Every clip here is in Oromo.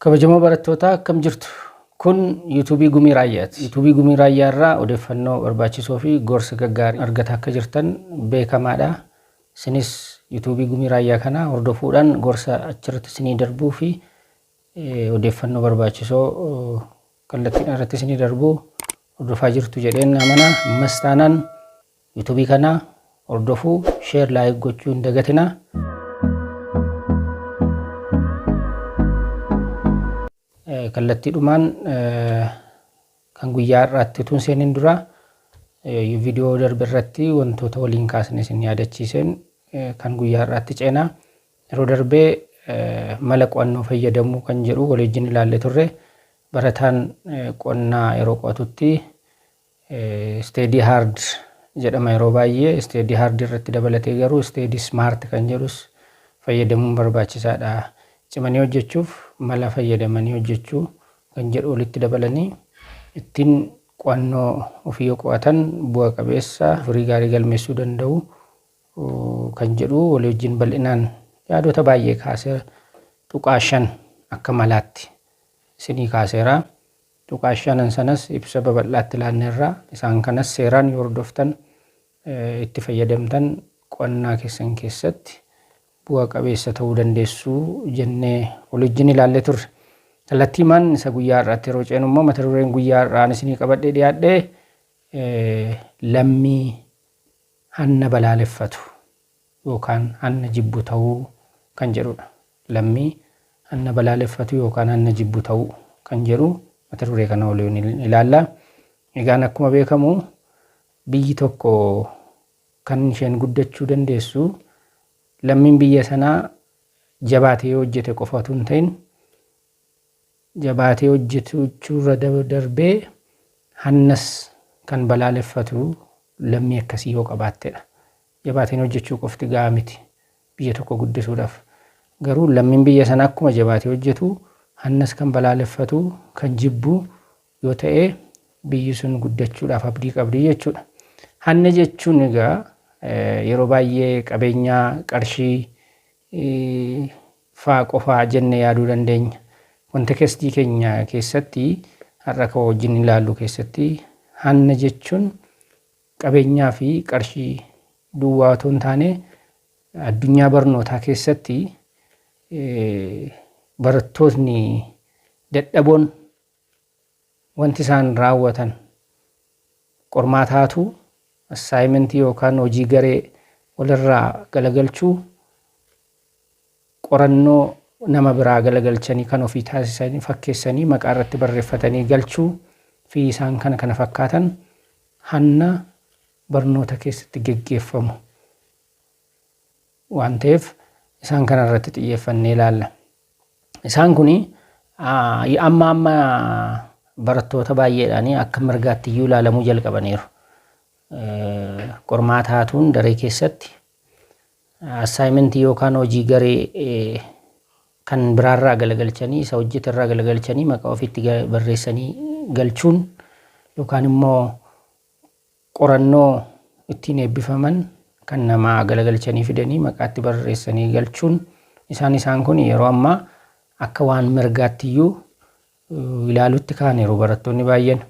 Kabajamoo barattootaa akkam jirtu? Kun YouTube Gumii Raayyaati. YouTube Gumii Raayyaa irraa odeeffannoo barbaachisoo fi gorsa gaggaarii argataa akka jirtan beekamaadha. Isinis YouTube Gumii Raayyaa kana hordofuudhaan gorsa achirratti isinii darbuu fi odeeffannoo barbaachisoo kallattiidhaan irratti isinii darbu hordofaa jirtu jedheen amana. Ammas taanaan Yutubii kanaa hordofuu share like gochuu hin dagatinaa. Kallattiidhumaan kan guyyaa har'aatti utuu hin seenin dura viidiyoo darbe irratti wantoota waliin kaasne isin yaadachiiseen kan guyyaa har'aatti ceenaa. Yeroo darbee mala qo'annoo fayyadamuu kan jedhu waliin ilaalle turre. Barataan qonnaa yeroo qo'atutti Steady hard jedhama yeroo baay'ee steady hard irratti dabalatee garuu steady smart kan jedhus fayyadamuun barbaachisaadha. Cimanii hojjechuuf mala fayyadamanii hojjechuu kan jedhu walitti dabalanii ittiin qo'annoo ofii yoo qo'atan bu'a qabeessa firii gaarii galmeessuu danda'u kan jedhu walii wajjin bal'inaan yaadota baay'ee kaasee tuqaa shan akka malaatti isinii kaaseera. Tuqaa shanan sanas ibsa babal'aatti laanneerra. Isaan kanas seeraan yoo hordoftan, itti fayyadamtan qo'annaa keessan keessatti bu'a qabeessa ta'uu dandeessu jennee waliwjjin ilaallee turre. Kallattiimaan isa guyyaa har'aatti yeroo ceenu immoo mata dureen guyyaa har'aa ani isinii qabadhee dhiyaadhe lammii hanna balaaleffatu. yookaan hanna jibbu ta'uu kan jedhudha. Lammii hanna balaaleffatu yookaan hanna jibbu ta'uu kan jedhu mata duree kana waliin ilaalla. Egaan akkuma beekamu biyyi tokko kan isheen guddachuu dandeessu lammiin biyya sanaa jabaatee yoo hojjete qofa utuu hin ta'in jabaatee hojjechuurra darbee hannas kan balaaleffatu lammii akkasii yoo qabaattedha. Jabaatanii hojjechuu qofti gahaa miti. Biyya tokko guddisuudhaaf garuu lammiin biyya sanaa akkuma jabaatee hojjetu hannas kan balaaleffatu, kan jibbu yoo ta'e biyyi sun guddachuudhaaf abdii qabdi jechuudha. Hanna jechuun egaa yeroo baay'ee qabeenyaa, qarshii faa qofaa jenne yaaduu dandeenya. Kontekestii keenya keessatti har'a kan wajjin ilaallu keessatti hanna jechuun Qabeenyaa fi qarshii duwwaa otoo hin taane addunyaa barnootaa keessatti barattootni dadhaboon wanti isaan raawwatan qormaata haatuu, assaayimentii yookaan hojii garee walirraa galagalchuu, qorannoo nama biraa galagalchanii kan ofii taasisanii fakkeessanii maqaa irratti barreeffatanii galchuu fi isaan kana kana fakkaatan hanna barnoota keessatti geggeeffamu waan ta'eef isaan kana irratti xiyyeeffannee ilaalla. Isaan kun amma amma barattoota baay'eedhaan akka mirgaatti iyyuu ilaalamuu jalqabaniiru. Qormaata haatuun daree keessatti Assaayimentii yookaan hojii garee kan biraarraa galagalchanii isa hojjeterraa galagalchanii maqaa ofiitti barreessanii galchuun yookaan immoo qorannoo ittiin eebbifaman kan namaa galagalchanii fidanii maqaatti barreessanii galchuun isaan isaan kun yeroo ammaa akka waan mirgaattiyyuu ilaalutti kaaniiru barattoonni baay'een.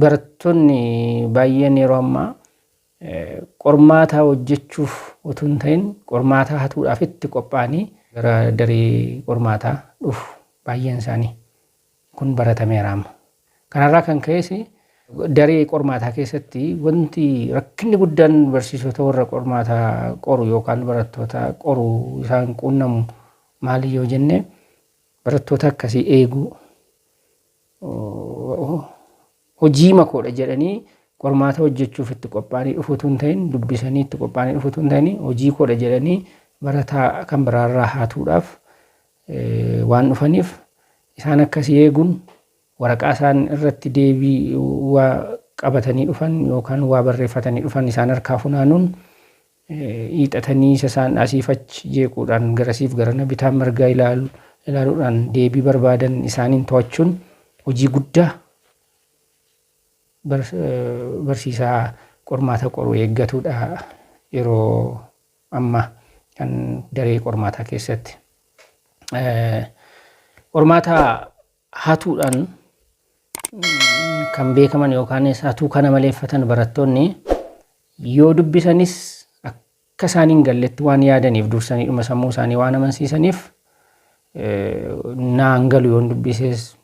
Barattoonni baay'een yeroo ammaa qormaataa hojjechuuf utuu hin ta'in qormaataa hatuudhaaf itti qophaa'anii gara daree qormaataa dhufu baay'een isaanii. Kun baratameera amma. Kanarraa kan ka'es daree qormaataa keessatti wanti rakkinni guddaan barsiisota warra qormaataa qoru yookaan barattoota qoru isaan quunnamu maali yoo jenne barattoota akkasii eeguu hojiima koodha jedhanii qormaata hojjechuuf itti qophaa'anii dhufu utuu hin ta'in dubbisanii itti qophaa'anii dhufu utuu hin ta'in hojii koodha jedhanii barataa kan biraarraa haatuudhaaf waan dhufaniif isaan akkasii eeguun waraqaa isaan irratti deebii waa qabatanii dhufan yookaan waa barreeffatanii dhufan isaan harkaa funaanuun hiixatanii isa isaan asiif achi jeequudhaan garasiif garana bitaa mirgaa ilaalu ilaaluudhaan deebii barbaadan isaaniin to'achuun hojii guddaa bar- eh, barsiisaa qormaata qoru eeggatudha yeroo ammaa kan daree qormaataa keessatti. Eh, Qormaata hatuudhaan kan beekaman yookaanis hatuu kana maleeffatan barattoonni yoo dubbisanis akka isaan hin galletti waan yaadaniif dursanii dhuma sammuu isaanii waan amansiisaniif naan galu yoon dubbises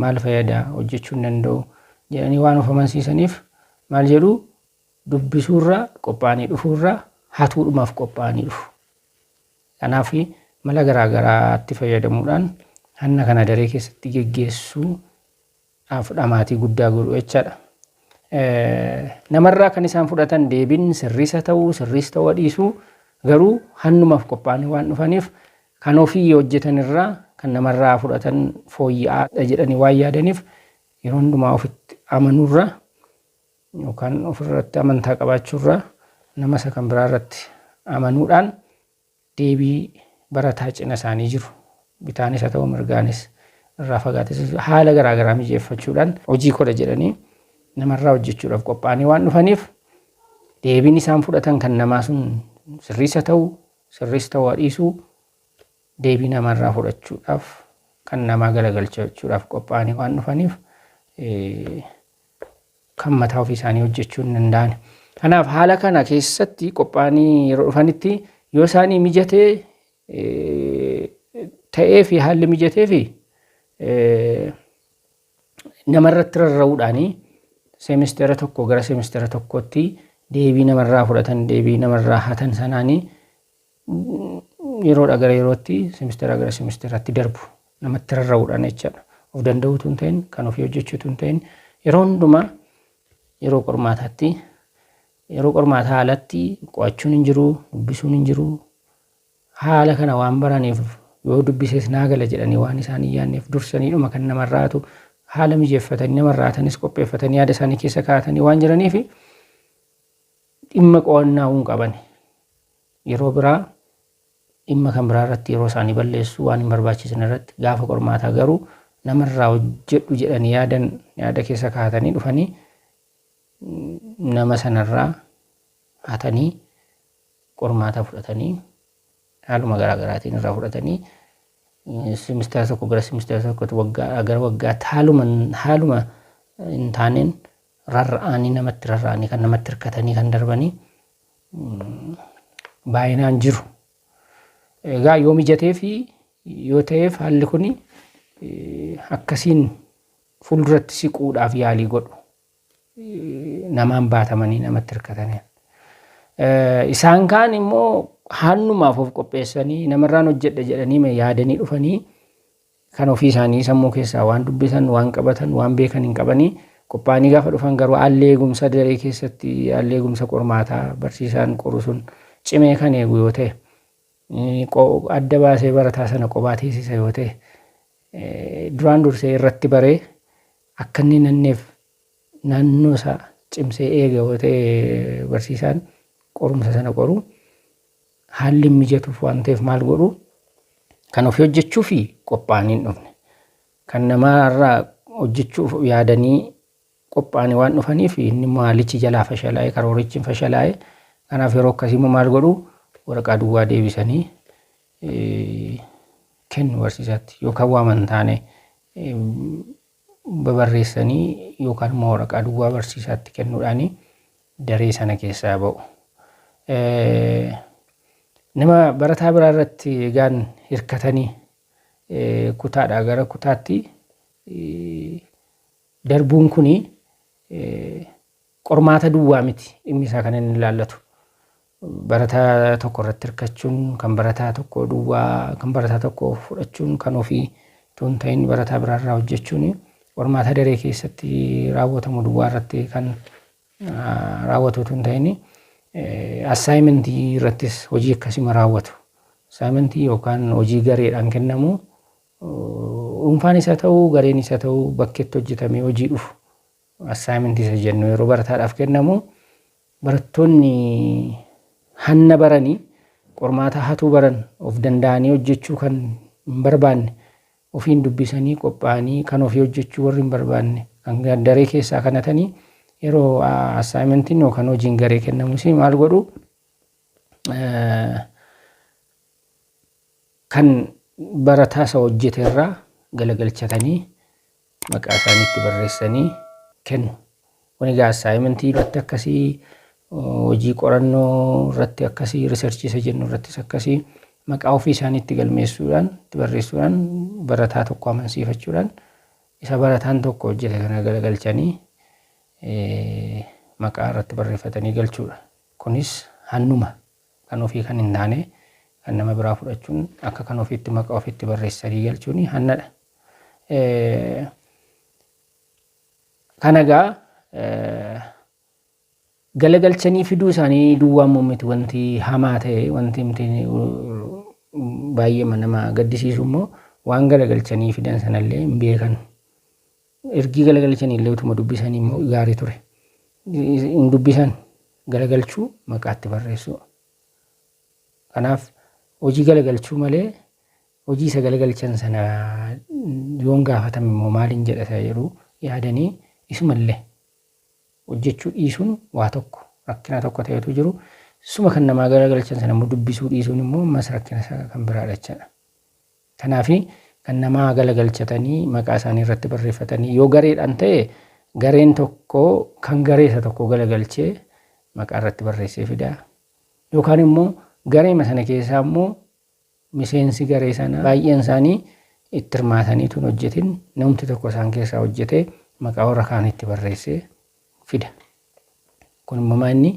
maal fayyada hojjechuu hin danda'u jedhanii waan of amansiisaniif maal jedhu dubbisuurra qophaa'anii dhufuurra hatuudhumaaf qophaa'anii dhufu. Kanaaf, mala garaa garaatti fayyadamuudhaan hanna kana daree keessatti geggeessuu dhaaf dhamaatii guddaa godhu jecha dha. Nama irraa kan isaan fudhatan deebiin sirriis haa ta'uu, sirriis ta'uu haa dhiisuu, garuu hannumaaf qophaa'anii waan dhufaniif kan ofii hojjetan irraa kan nama irraa fudhatan fooyya'aa dha jedhanii waan yaadaniif yeroo hundumaa ofitti amanuu irra yookaan ofirratti amantaa qabaachuurra nama isa kan biraarratti amanuudhaan deebii barataa cina isaanii jiru bitaanis haa ta'u mirgaanis irraa fagaates haala garaa garaa mijeeffachuudhaan hojii koodha jedhanii namarraa hojjechuudhaaf qophaa'anii waan dhufaniif deebiin isaan fudhatan kan namaa sun sirriis haa ta'u sirriis ta'uu haa dhiisu deebii namarraa fudhachuudhaaf kan namaa galagalchachuudhaaf qophaa'anii waan dhufaniif kan mataa ofii isaanii hojjechuu hin danda'an. Kanaaf haala kana keessatti qophaa'anii yeroo dhufanitti yoo isaanii mijatee ta'ee fi haalli mijatee fi namarratti rarra'uudhaanii seemisteera tokko gara seemisteera tokkootti deebii namarraa fudhatan deebii namarraa hatan sanaanii yeroodha gara yerootti simisteeraa gara simisteeraatti darbu namatti rarra'uudhaan jechaadha. Of danda'uutu hin ta'in kan ofii hojjechuutu hin ta'in yeroo hundumaa yeroo qormaataatti yeroo qormaataa alatti qo'achuun hin jiru dubbisuun hin jiru haala kana waan baraniif yoo dubbisees naa gala jedhanii waan isaan hin yaadneef dursaniidhuma kan namarraatu haala mijeeffatanii namarraatanis qopheeffatanii yaada isaanii keessa kaa'atanii waan jiraniif dhimma qo'annaa hin qabani. Yeroo biraa dhimma kan biraa irratti yeroo isaanii balleessu waan hin barbaachisne irratti gaafa qormaataa garuu nama irraa hojjedhu jedhanii yaadan yaada keessa kaa'atanii dhufanii nama sanarraa hatanii qormaataa fudhatanii haaluma garaa garaatiin irraa fudhatanii simisteera tokko gara simisteera tokkotti waggaa gara waggaatti haaluma haaluma hin taaneen rarra'anii namatti rarra'anii kan namatti hirkatanii kan darbanii baay'inaan jiru. Egaa yoo mijatee fi yoo ta'eef haalli kun akkasiin fuulduratti siquudhaaf yaalii godhu. Namaan baatamanii namatti hirkatanii. Isaan kaan immoo haannumaaf of qopheessanii namarraan hojjedha jedhanii yaadanii dhufanii Kan ofii isaanii sammuu keessaa waan dubbisan, waan qabatan, waan beekan hin qabanii. Qophaa'anii gaafa dhufan garuu haalli eegumsa daree keessatti, haalli eegumsa qormaataa barsiisaan qoru sun cimee kan eegu yoo ta'e, adda baasee barataa sana qophaa teessisa yoo ta'e, duraan dursee irratti baree akka inni nanneef naannoo isaa cimsee eega yoo ta'e barsiisaan qorumsa sana qoru Haalli hin mijatuuf waan ta'eef maal godhu? Kan ofii hojjechuuf qophaa'anii hin dhufne. Kan namaa irraa hojjechuuf yaadanii qophaa'anii waan dhufaniif inni immoo haalichi jalaa fashalaa'e karoorichi hin fashalaa'e. Kanaaf yeroo akkasii immoo maal godhu? Waraqaa duwwaa deebisanii kennu barsiisaatti yookaan waaman taane babarreessanii yookaan immoo waraqaa duwwaa barsiisaatti kennuudhaani daree sana keessaa ba'u. Nama barataa biraa irratti egaan hirkatanii kutaadhaa gara kutaatti darbuun kuni qormaata duwwaa miti dhimmi isaa kan inni ilaallatu. Barataa tokko irratti hirkachuun kan barataa tokko duwwaa kan barataa tokko fudhachuun kan ofii utuu hin ta'in barataa biraa irraa hojjechuun qormaata daree keessatti raawwatamu duwwaa irratti kan raawwatu utuu hin ta'in assaayimentii irrattis hojii akkasuma raawwatu. Assaayimentii yookaan hojii gareedhaan kennamu dhuunfaan isa ta'u gareen isa ta'u bakkeetti hojjetamee hojii dhufu Assignment isa jennu yeroo barataadhaaf kennamu barattoonni hanna baranii qormaataa hatuu baran of danda'anii hojjechuu kan hin barbaanne ofiin dubbisanii qophaa'anii kan ofii hojjechuu warri hin barbaanne kan daree keessaa kanatanii yeroo assaayimentiin yookaan hojiin garee kennamus maal godhu kan barataa isa hojjete irraa galagalchatanii maqaa isaanii itti barreessanii kennu. Kun egaa assaayimentii irratti akkasii hojii qorannoo irratti akkasii riserchii isa jennu irrattis akkasii maqaa ofii isaanii itti galmeessuudhaan itti barreessuudhaan barataa tokko amansiifachuudhaan isa barataan tokko hojjete kana galagalchanii maqaa irratti barreeffatanii galchuudha. Kunis hannuma kan ofii kan hin taane kan nama biraa fudhachuun akka kan ofiitti maqaa ofiitti barreessanii galchuun hannadha. Kana egaa galagalchanii fiduu isaanii duwwaa immoo miti wanti hamaa ta'e wanti miti baay'ee nama gaddisiisu immoo waan galagalchanii fidan sanallee hin beekan. Ergii galagalchanii illee utuma dubbisanii immoo gaarii ture. Hin dubbisan galagalchuu maqaatti barreessuu. Kanaaf hojii galagalchuu malee hojii isa galagalchan sana yoon gaafatame immoo maalin jedha isa jedhu yaadanii isuma illee hojjechuu dhiisuun waa tokko rakkina tokko ta'etu jiru. Suma kan namaa galagalchan sana immoo dubbisuu dhiisuun immoo ammas rakkina isa kan biraa dhachadha. Kanaaf kan namaa galagalchatanii maqaa isaanii irratti barreeffatanii yoo gareedhaan ta'e gareen tokko kan garee isa tokko galagalchee maqaa irratti barreessee fida. Yookaan immoo gareema sana keessaa immoo Miseensi garee sanaa baay'een isaanii itti hirmaatanii utuu hin hojjetin namumti tokko isaan keessaa hojjetee maqaa warra kaaniitti barreessee fida. Kun immoo maa inni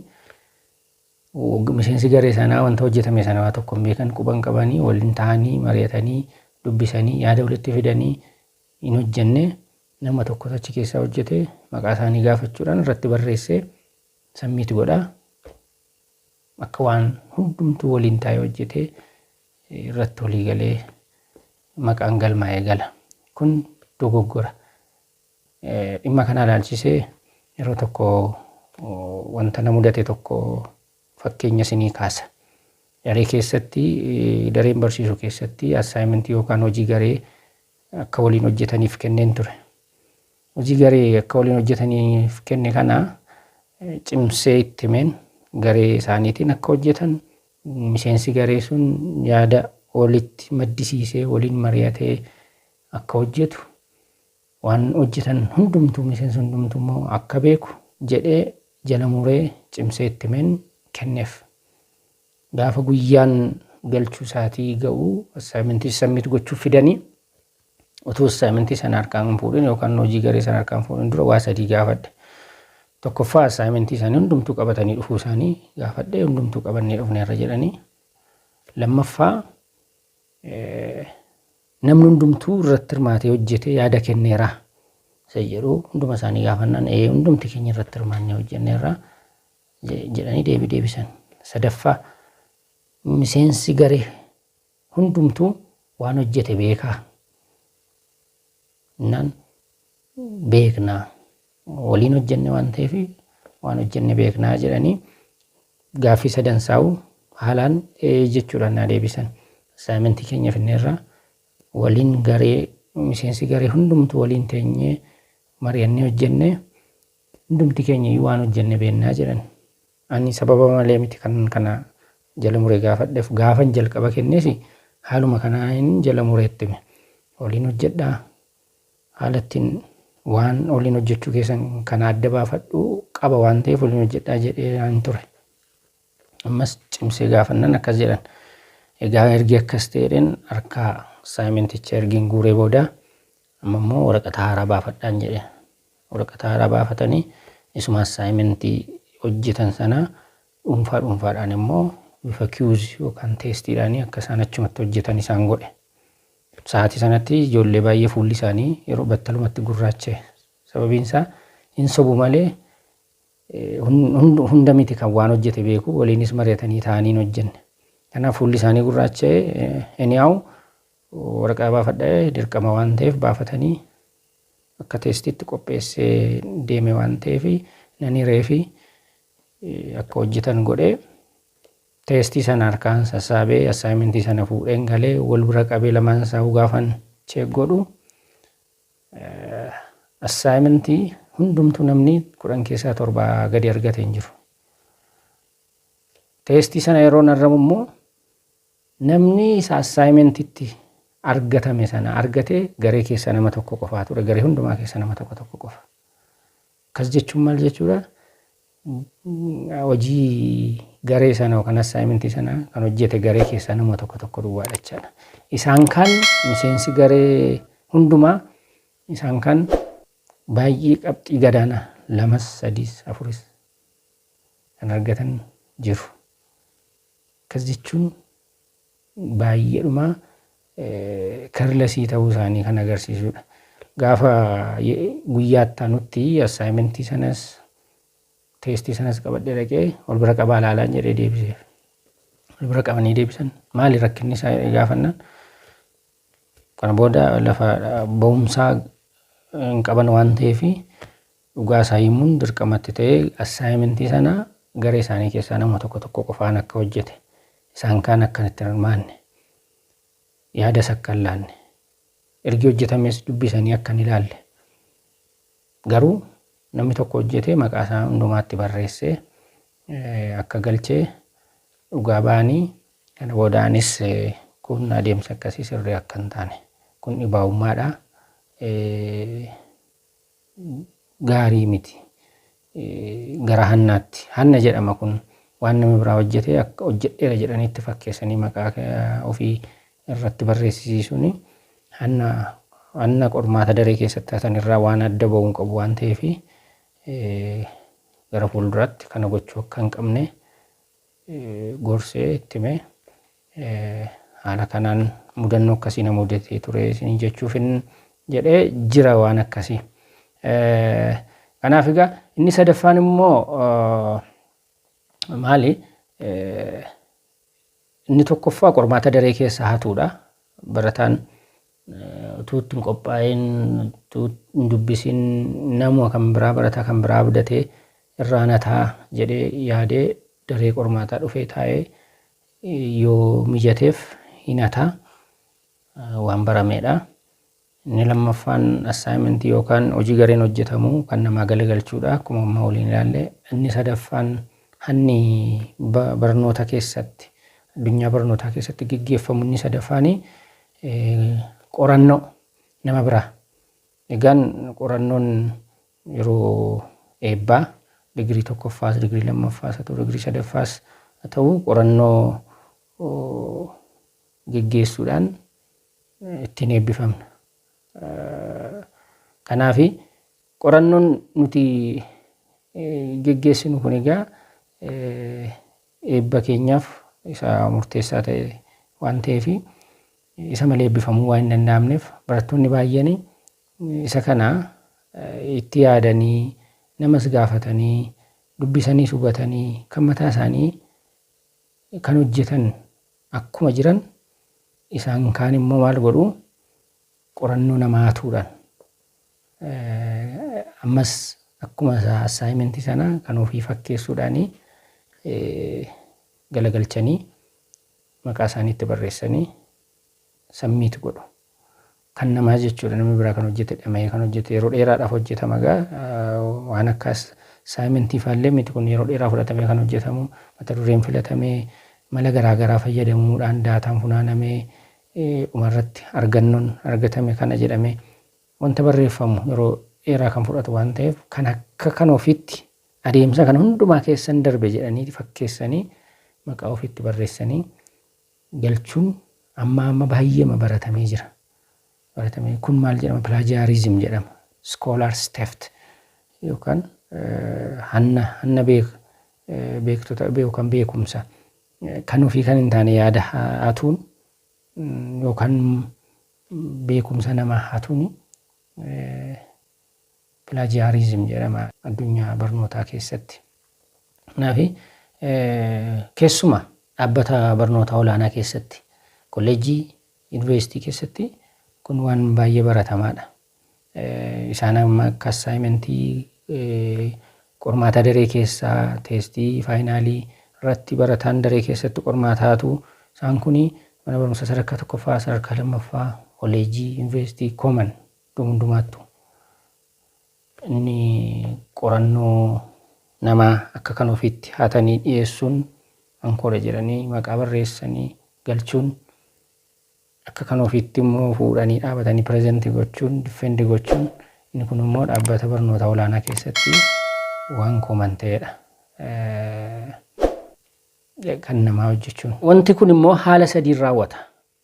miseensi garee sanaa wanta hojjetame sana waa tokko hin beekan quba hin qabanii waliin ta'anii mari'atanii dubbisanii yaada walitti fidanii hin hojjenne nama tokko achi keessaa hojjetee maqaa isaanii gaafachuudhaan irratti barreessee sammiitti godhaa Akka waan hundumtuu waliin taa'ee hojjetee irratti walii galee maqaan galmaa'ee gala. Kun dogoggora. Dhimma kanaa ilaalchisee yeroo tokko wanta na mudate tokko fakkeenya isinii kaasa. Daree keessatti dareen barsiisu keessatti assaayimentii yookaan hojii garee akka waliin hojjetaniif kenneen ture. Hojii garee akka waliin hojjetaniif kenne kana cimsee itti himeen garee isaaniitiin akka hojjetan miseensi garee sun yaada walitti maddisiisee waliin mari'atee akka hojjetu waan hojjetan hundumtuu miseensi hundumtuu immoo akka beeku jedhee jala muree cimsee itti himeen kenneef. Gaafa guyyaan galchuu isaatii ga'u assignment submit gochuuf fidanii utuu assignment sana harkaan hin fuudhin yookaan hojii garee sana harkaan hin fuudhin dura waa sadii gaafadhe. Tokkoffaa assignment isaanii hundumtuu qabatanii dhufuu isaanii gaafadhe hundumtuu qabannee dhufneerra jedhanii. Lammaffaa eh, namni hundumtuu irratti hirmaatee hojjetee yaada kenneera isa jedhu hunduma isaanii gaafannaan ee hundumti keenya irratti hirmaannee hojjenneerra jedhanii deebii deebisan. Sadaffaa, miseensi garee hundumtuu waan hojjete beekaa? Innaan beeknaa waliin hojjenne waan ta'eef waan hojjenne beeknaa jedhanii gaaffii sadan saa'u haalaan ee jechuudhaan naa deebisan. Saayimentii keenya finneerraa waliin garee miseensi garee hundumtuu waliin teenyee mari'annee hojjenne Hundumti keenya iyyuu waan hojjenne beennaa jedhan. Ani sababa malee miti kanan kana jala mure gaafadhef gaafan jalqaba kennes haaluma kanaanin jala mure itti hime. Oliin hojjedha. Haala ittiin waan oliin hojjechuu keessan kana adda baafadhu qaba waan ta'eef oliin hojjedha jedheen ture. Ammas cimsee gaafannan akkas jedhan. Egaa ergi akkas ta'edhen harkaa saayimenticha ergin guuree booda amma immoo waraqata haaraa baafadhaan jedhe. Waraqata haaraa baafatanii isuma assaayimentii hojjetan sanaa dhuunfaa dhuunfaadhaan immoo bifa kiyuuz yookaan teestiidhaanii akka isaan achumatti hojjetan isaan godhe. Sa'aatii sanatti ijoollee baay'ee fuulli isaanii yeroo battalumatti gurraache. Sababiin isaa hin sobu malee hunda miti kan waan hojjete beeku waliinis mari'atanii taa'anii hin hojjenne. Kanaaf fuulli isaanii gurraacha'ee anyhow Waraqaa baafadha ee dirqama waan ta'eef baafatanii akka teestiitti qopheessee deeme waan ta'eef nan hireefi akka hojjetan godhee teestii sana harkaan sassaabee assaayimentii sana fuudheen galee wal bira qabee lamaan isaa gaafan cheek godhu assaayimentii hundumtuu namni kudhan keessaa torba gadi argate hin jiru. Teestii sana yeroo narramu immoo Namni isa assignmentitti argatame sana argate garee keessa nama tokko qofaa ture. Garee hundumaa keessa nama tokko tokko qofa. Akkas jechuun maal jechuudha? Hojii garee sana yookaan assignmentii sana kan hojjete garee keessaa nama tokko tokko duwwaadha jechaadha. Isaan kaan miseensi garee hundumaa isaan kaan baay'ee qabxii gadaanaa lamas, sadiis, afuris kan argatan jiru. Akkas jechuun baay'eedhuma careless ta'uu isaanii kan agarsiisudha. Gaafa guyyaa itti aanutti assignment sanas teestii sanas qabadhee dhaqee wal bira qabaa ilaalaan jedhee deebiseef. Wal bira qabanii deebisan maali rakkinni isaa jedhee gaafannaan kana booda lafa ba'umsaa hin qaban waan ta'eef Dhugaa isaa himuun dirqama itti ta'ee assaayimentii sana garee isaanii keessaa nama tokko tokko qofaan akka hojjete, isaan kaan akkan itti hin hirmaanne, yaadas akka hin laanne, ergi hojjetamees dubbisanii akka hin ilaalle, garuu namni tokko hojjetee maqaa isaa hundumaatti barreessee akka galchee dhugaa ba'anii kana booda anis kun adeemsa akkasii sirrii akka hin taane kun dhibaa'ummaadha gaarii miti. Gara hannaatti. Hanna jedhama kun waan nama biraa hojjetee akka hojjedheera jedhanii itti fakkeessanii maqaa ofii irratti barreessisiisuun hanna hanna qormaata daree keessatti hatan irraa waan adda ba'uun qabu waan ta'eef gara fuulduraatti kana gochuu akka hin qabne gorsee itti hime. Haala kanaan mudannoo akkasii na mudatee ture isiniin jechuufin jedhe jira waan akkasii. Kanaaf egaa inni sadaffaan immoo maali? Inni tokkoffaa qormaata daree keessaa hatuudha. Barataan utuu itti hin qophaa'in, utuu hin dubbisin namuma kan biraa barataa kan biraa abdatee irraa na ta'a jedhee yaadee daree qormaataa dhufee taa'ee yoo mijateef hin hata waan barameedha. Inni lammaffaan assignment yookaan hojii gareen hojjetamu kan namaa galagalchuudha akkuma amma waliin ilaalle. Inni sadaffaan hanni ba- barnoota keessatti addunyaa barnootaa keessatti geggeeffamu inni sadaffaani Qorannoo nama biraa. Egaan qorannoon yeroo eebbaa digirii tokkoffaas, digirii lammaffaas haa ta'u, digirii sadaffaas haa ta'u qorannoo geggeessuudhaan ittiin eebbifamna. Kanaaf qorannoon nuti geggeessinu kun egaa eebba keenyaaf isa murteessaa ta'e waan ta'eef isa malee eebbifamuu waan hin danda'amneef barattoonni baay'een isa kana itti yaadanii namas gaafatanii dubbisaniis hubatanii kan mataa isaanii kan hojjetan akkuma jiran isaan kaan immoo maal godhu qorannoo namaa hatuudhaan Ammas akkuma assignment sana kan ofii fakkeessuudhaan galagalchanii maqaa isaanii itti barreessanii submit godhu. Kan namaa jechuudha namni biraa kan hojjete dhama'ee kan hojjete yeroo dheeraadhaaf hojjetama egaa waan akka assignment faallee miti kun yeroo dheeraa fudhatamee kan hojjetamu mata dureen filatamee mala garaagaraa fayyadamuudhaan daataan funaanamee Dhumarratti argannoon argatame kana jedhamee wanta barreeffamu yeroo dheeraa kan fudhatu waan ta'eef kan akka kan ofiitti adeemsa kana hundumaa keessan darbe jedhanii fakkeessanii maqaa ofiitti barreessanii galchuun amma amma baay'eema baratamee jira. Baratamee kun maal jedhama? Pilaajiyaariizim jedhama. Iskoolaars teft yookaan hanna hanna beek beektota yookaan beekumsa Kan ofii kan hin taane yaada hatuun yookaan beekumsa namaa hatuun pilaajiyaariizim jedhama addunyaa barnootaa keessatti. Kanaaf keessuma dhaabbata barnootaa olaanaa keessatti kolleejjii yuunivarsiitii keessatti kun waan baay'ee baratamaadha. Isaan amma akka assaayimentii qormaata daree keessaa teestii faayinaalii irratti barataan daree keessatti qormaataatu isaan kun mana barumsa sadarkaa tokkoffaa sadarkaa lammaffaa koleejii yuunivarsiitii kooman iddoo hundumaattu inni qorannoo namaa akka kan ofiitti haatanii dhiyeessuun ankoora jedhanii maqaa barreessanii galchuun akka kan ofiitti immoo fuudhanii dhaabatanii present gochuun, defend gochuun inni kun immoo dhaabbata barnoota olaanaa keessatti waan common ta'edha. kan namaa hojjechuun. Wanti kun immoo haala sadiin raawwata.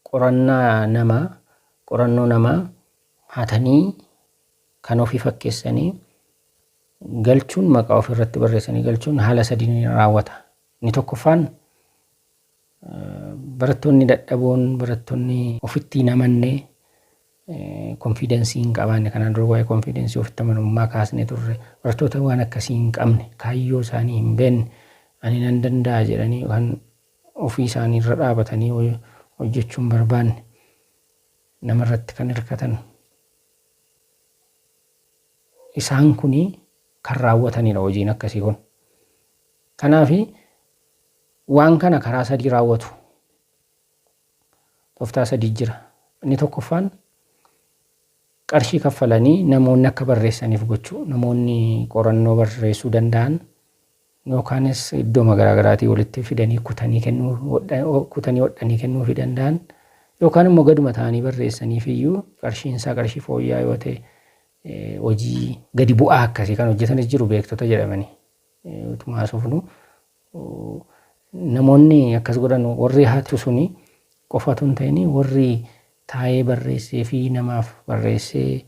Qorannaa namaa, qorannoo namaa hatanii kan ofii fakkeessanii galchuun maqaa ofii irratti barreessanii galchuun haala sadiin raawwata. Inni tokkoffaan Barattoonni dadhaboon, barattoonni ofitti hin amanne, konfiidensii hin qabaanne, kanaan dura waa'ee konfiidensii ofitti amanamummaa kaasnee turre, barattoota waan akkasii hin qabne, kaayyoo isaanii hin beekne, ani nan danda'a jedhanii kan ofii isaanii irra dhaabatanii hoj- hojjechuu hin barbaanne, nama irratti kan hirkatan. Isaan kuni kan raawwatanidha hojiin akkasii kun. Kanaafi Waan kana karaa sadii raawwatu. Toftaa sadii jira. Inni tokkoffaan qarshii kaffalanii namoonni akka barreessaniif gochuu. Namoonni qorannoo barreessuu danda'an yookaanis iddooma garaagaraatii walitti fidanii kutanii kennuu hodha- ho- kutanii hodhanii kennuufii danda'an yookaan immoo gaduma ta'anii barreessaniif iyyuu qarshiin isaa qarshii fooyya'aa yoo ta'e eh, hojii gadi bu'aa akkasii kan hojjetanis jiru beektota jedhamanii eh, utuma haasofnu Namoonni akkas godhan warri hatu suni qofa otoo hin ta'in warri taa'ee barreessee fi namaaf barreessee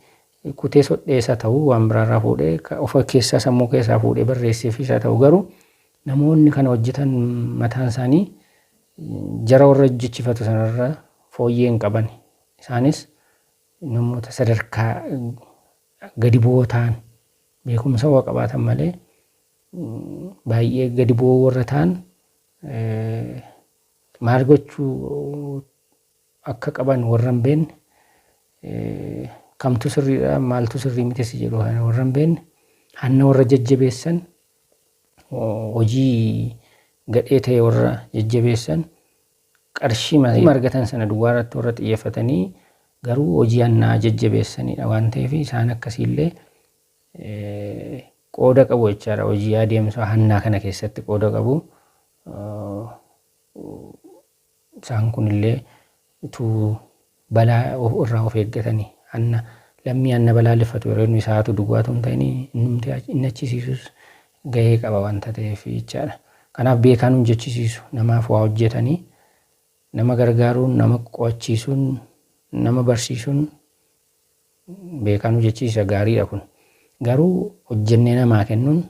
kutee sodhees haa ta'u waan biraarraa fuudhee of keessaa sammuu keessaa fuudhee barreesseefis haa ta'u garuu namoonni kana hojjetan mataan isaanii jara warra hojjechifatu sanarra fooyyee hin qaban. Isaanis namoota sadarkaa gadi bu'oo ta'an beekumsa waa qabaatan malee baay'ee gadi bu'oo warra ta'an maal gochuu akka qaban warra hin beekne kamtu sirriidha maaltu sirrii miti si jedhu kana warra hin beekne hanna warra jajjabeessan hojii gadhee ta'e warra jajjabeessan qarshii malee argatan sana duwwaa irratti warra xiyyeeffatanii garuu hojii hannaa jajjabeessanidha waan ta'eef isaan akkasiillee qooda qabu jechaadha. Hojii adeemsa hannaa kana keessatti qooda qabu. Isaan kunillee utuu balaa irraa of eeggatanii hanna lammii hanna balaaleffatu yeroo inni isaatu duwwaatu hin ta'in innumti inni achisiisus gahee qaba wanta ta'eef jechaadha. Kanaaf beekaan hojjechisiisu namaaf waa hojjetanii nama gargaaruun nama qo'achiisuun nama barsiisuun beekanuu jechisiisa gaariidha kun garuu hojjennee namaa kennuun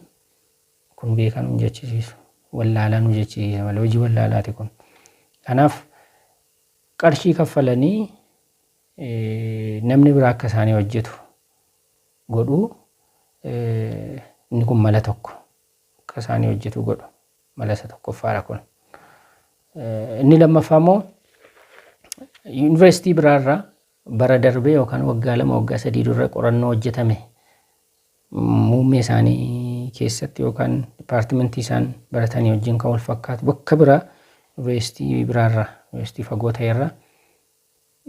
kun beekanuu hin jechisiisu wallaalanuu jechisiisa malee hojii wallaalaati kun kanaaf qarshii kaffalanii namni biraa akka isaanii hojjetu godhuu inni kun mala tokko akka isaanii hojjetu godhu mala isa tokkoffaadha kun inni lammaffaa immoo yuunivarsiitii biraarraa Bara darbe yookaan waggaa lama waggaa sadii durra qorannoo hojjetame muummee isaanii keessatti yookaan dipaartimentii isaan baratanii wajjin kan wal fakkaatu bakka biraa yuunivarsiitii biraarraa yuunivarsiitii fagoo ta'erraa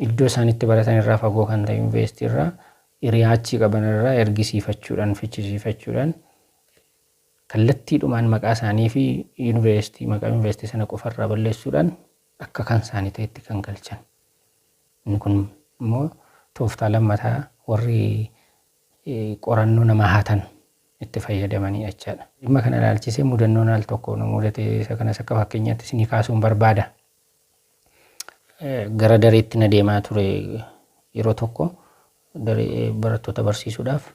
iddoo isaan itti baratan irraa fagoo kan ta'e yuunivarsiitii irraa hiriyaa achii qaban irraa ergisiifachuudhaan fichisiifachuudhaan kallattiidhumaan maqaa isaanii fi yuunivarsiitii maqaa yuunivarsiitii sana qofarraa balleessuudhaan akka kan isaanii ta'etti kan galchan. Inni kun immoo tooftaa lammataa warri qorannoo namaa hatan itti fayyadamanidha jechaadha. Dhimma kana ilaalchisee mudannoon al tokko nu mudate isa kanas akka fakkeenyaatti isinii kaasuun barbaada. Gara dareetti na deemaa ture yeroo tokko daree barattoota barsiisuudhaaf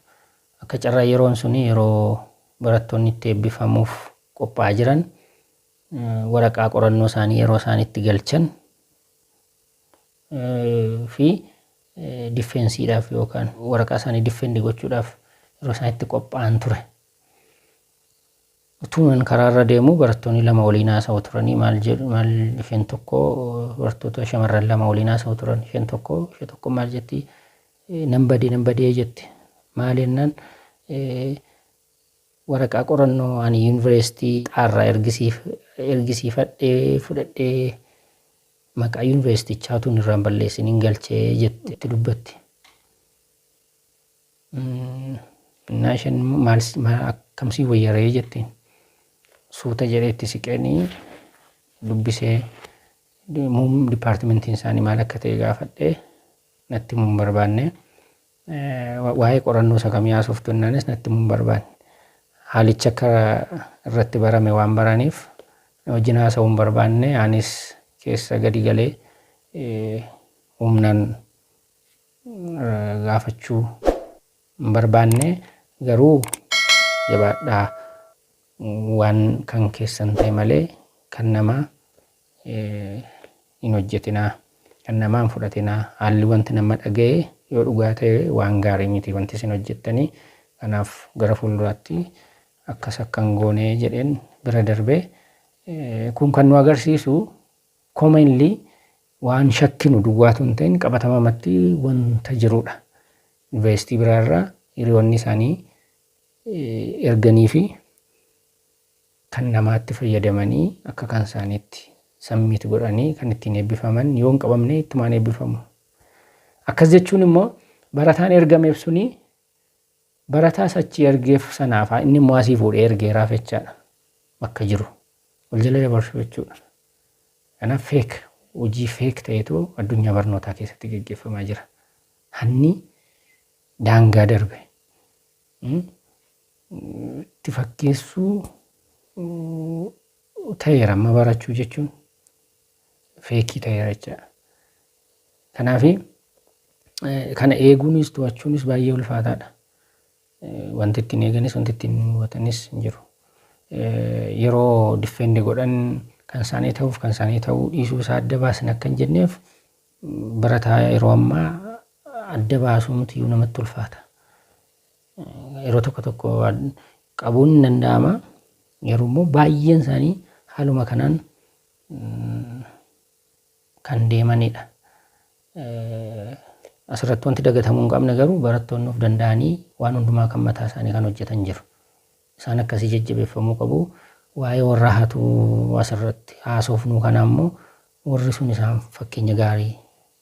akka carraa yeroon sun yeroo barattoonni itti eebbifamuuf qophaa'aa jiran waraqaa qorannoo isaanii yeroo isaan itti galchan fi diffeensiidhaaf yookaan waraqaa isaanii diffeendi gochuudhaaf yeroo isaan itti qophaa'an ture. Utuman karaarra deemu barattoonni lama waliin haasa'u turanii maal jedhu maal isheen tokko barattoota shamarran lama waliin haasa'u turan isheen tokko ishee tokko maal jetti nan badee nan badee jetti maal jennaan waraqaa qorannoo ani yuunivarsiitii xaarraa ergisiif ergisiifadhee fudhadhee Maqaa yunivarsiitichaa utuu hin irraan balleessiniin galche jette itti dubbatti. Innaa isheen immoo maal si- maal akkam sii wayyaree jetteen. Suuta jedhee itti siqeenii dubbisee muum dipaartimentiin isaanii maal akka ta'e gaafadhee natti himuun barbaanne Waa'ee qorannoo isa kamii haasoftu jennaanis natti himuu hin barbaanne. Haalichi akka irratti barame waan baraniif na wajjin haasa'uu hin barbaanne anis keessa gadi galee humnaan gaafachuu hin barbaanne garuu jabaadhaa waan kan keessan ta'e malee kan namaa hin hojjetinaa. Kan namaa hin fudhatinaa. Haalli wanti nama dhaga'e yoo dhugaa ta'e waan gaarii miti wanti isin hojjettanii. Kanaaf gara fuulduraatti akkas akka hin goone jedheen bira darbe. Kun kan nu agarsiisu commonly waan shakkinu duwwaatu hin ta'in qabatamamatti wanta jirudha. Yuunivarsiitii biraarraa hiriyoonni isaanii erganii fi kan namaatti fayyadamanii akka kan isaaniitti submit godhanii kan ittiin eebbifaman yoo hin qabamne ittumaan eebbifamu. Akkas jechuun immoo barataan ergameef suni barataa sachii ergeef sanaafaa inni immoo asii fuudhee ergeeraaf jechaadha. Bakka jiru wal jala dabarsuu jechuudha. Kanaaf feek hojii feek ta'etu addunyaa barnootaa keessatti gaggeeffamaa jira. Hanni daangaa darbe itti fakkeessuu ta'eera amma barachuu jechuun feekii ta'eera jechaadha. Kanaaf kana eeguunis to'achuunis baay'ee ulfaataadha. Wanti ittiin eeganis wanti ittiin hubatanis hin jiru. Yeroo diffeendi godhan kan isaanii ta'uuf kan isaanii ta'uu dhiisuu isaa adda baasin akka hin jenneef barataa yeroo ammaa adda baasuu mitiyyuu namatti ulfaata. Yeroo tokko tokko qabuun hin danda'ama. Garuu immoo baay'een isaanii haaluma kanaan kan deemanidha. Asirratti wanti dagatamuu hin qabne garuu barattoonni of danda'anii waan hundumaa kan mataa isaanii kan hojjetan jiru. Isaan akkasii jajjabeeffamuu qabu. Waa'ee warra hatuu asirratti haasofnu kana ammoo warri sun isaan fakkeenya gaarii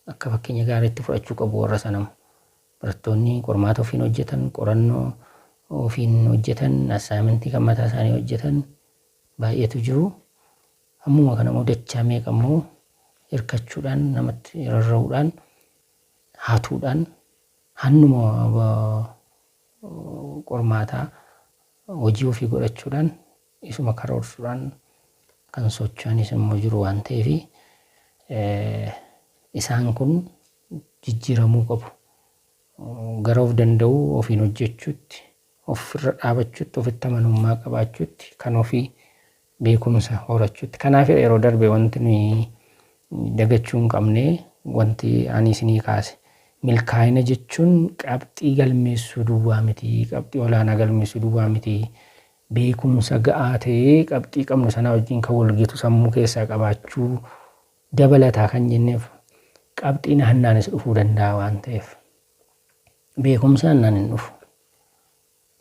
akka fakkeenya gaariitti fudhachuu qabu warra sanam. Barattoonni qormaata ofiin hojjetan, qorannoo ofiin hojjetan, assaayimentii kan mataa isaanii hojjetan baay'eetu jiru. Hammuma kana immoo dachaa meeqa immoo hirkachuudhaan namatti rarra'uudhaan hatuudhaan hannuma qormaataa hojii ofii godhachuudhaan isuma karoorsuudhaan kan socho'anis immoo jiru waan ta'eef isaan kun jijjiiramuu qabu. Gara of danda'uu ofiin hojjechuutti, ofirra dhaabachuutti, ofitti amanummaa qabaachuutti, kan ofii beekumsa horachuutti. Kanaafidha yeroo darbe wanti nuyi dagachuu hin qabne wanti ani isinii kaase. Milkaa'ina jechuun qabxii galmeessuu duwwaa miti, qabxii olaanaa galmeessuu duwwaa miti. Beekumsa ga'aa ta'e qabxii qabnu sanaa wajjin kan walgitu sammuu keessaa qabaachuu dabalataa kan jenneef qabxiin hannaanis dhufuu danda'a waan ta'eef. Beekumsi hannaan hin dhufu.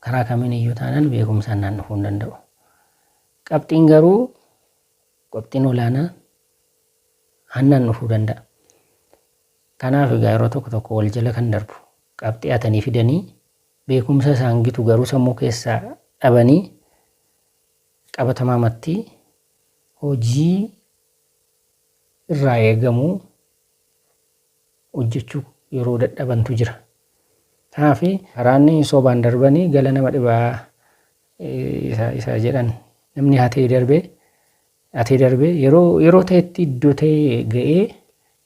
Karaa kamiin iyyuu taanaan beekumsaan naan dhufuu hin danda'u. Qabxiin garuu qabxiin olaanaa hannaan dhufuu danda'a. Kanaaf egaa yeroo tokko tokko wal jala kan darbu qabxii atanii fidanii beekumsa isaan gitu garuu sammuu keessaa dhabanii qabatamaamatti hojii irraa eegamu hojjechuu yeroo dadhabantu jira. Kanaaf karaan sobaan darbanii gala nama dhibaa isa jedhan namni hatee darbee hatee darbee yeroo yeroo ta'etti iddoo ta'e ga'ee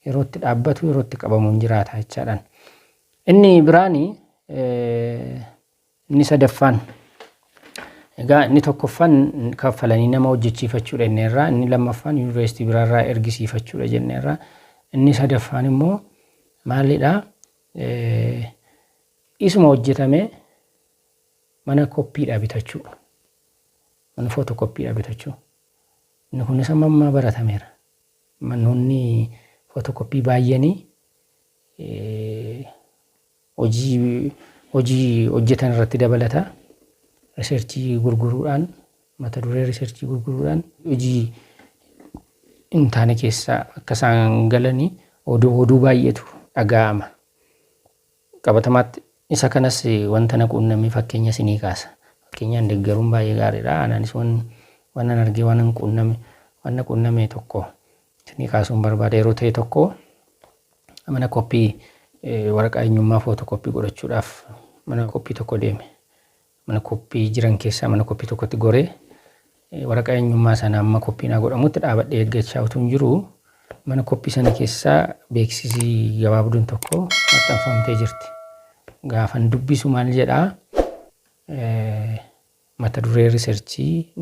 yerootti dhaabbatu yerootti qabamu hin jiraata jechaadhaan. Inni biraani Inni sadaffaan egaa inni tokkoffaan kaffalanii nama hojjechiifachuudha jenneerra inni lammaffaan yuunivarsiitii biraarraa ergisiifachuudha jenneerra inni sadaffaan immoo maalidha isuma hojjetame mana koppiidha bitachuu mana footoo koppiidha bitachuu inni kunis amma ammaa baratameera manoonni footoo koppii baay'anii hojii hojii hojjetan irratti dabalata. Riseerchii gurguruudhaan mata duree riseerchii gurguruudhaan hojii hin taane keessa akka isaan galanii oduu oduu baay'eetu dhaga'ama. Qabatamaatti isa kanas wanta na quunname fakkeenya isinii kaasa. Fakkeenyaan deeggaruun baay'ee gaariidha. Anaanis waan waan nan argee waan nan quunname waan na quunname tokko Tini kaasuun barbaade yeroo ta'e tokko mana koppii waraqaa eenyummaa footoo koppii godhachuudhaaf mana koppii tokko deeme. Mana koppii jiran keessaa mana koppii tokkotti goree waraqaa eenyummaa sana amma koppiin haa godhamutti dhaabadhee eeggachaa utuu hin jiru mana koppii sana keessaa beeksisii gabaabduun tokko maxxanfamtee jirti. Gaafan dubbisu maal jedhaa mata duree riserchii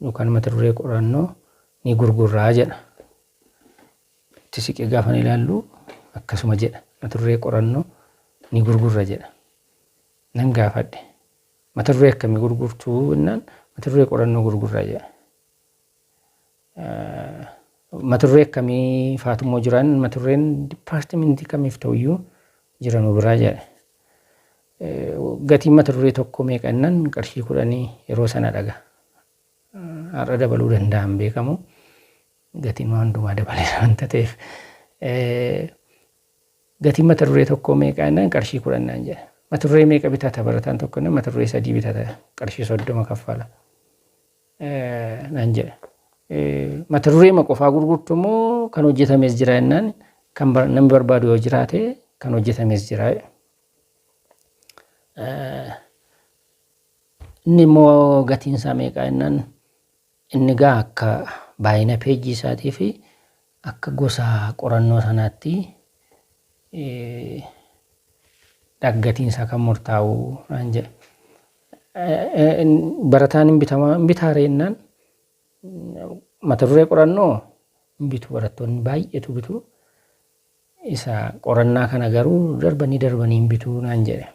yookaan mata duree qorannoo ni gurgurraa jedha. Itti siqee gaafa ilaallu akkasuma jedha. Mata duree qorannoo ni gurgurra jedha. Nan gaafadhe. Mata duree akkamii gurgurtuu jennaan mata duree qorannoo gurgurra jedha. Maturree akkamii faatu immoo jiran maturreen dipaartimentii kamiif ta'uyyuu jira nu biraa jedhe. Gatiin maturree tokko meeqa innan qarshii kudhanii yeroo sana dhaga. Har'a dabaluu danda'a hin beekamu. Gatiin waan hundumaa dabaleera wanta ta'eef. Gatiin maturree tokko meeqa innan qarshii kudhan naan jedhe. Maturree meeqa bitata barataan tokko innan maturree sadii bitata qarshii soddoma kaffala. naan jedhe. Mata dureema qofaa gurgurtu immoo kan hojjetames jira jennaan kan namni barbaadu yoo jiraate kan hojjetames jira. Inni immoo gatiin isaa meeqaa jennaan inni gaa akka baay'ina peejii isaatii fi Akka gosa qorannoo sanaatti dhaggatiin isaa kan murtaa'u naan jedhe. Barataan hin bitamaa hin bitaa ree jennaan mata duree qorannoo hin bitu barattoonni baay'eetu bitu. Isa qorannaa kana garuu darbanii darbanii hin bitu naan jedhe.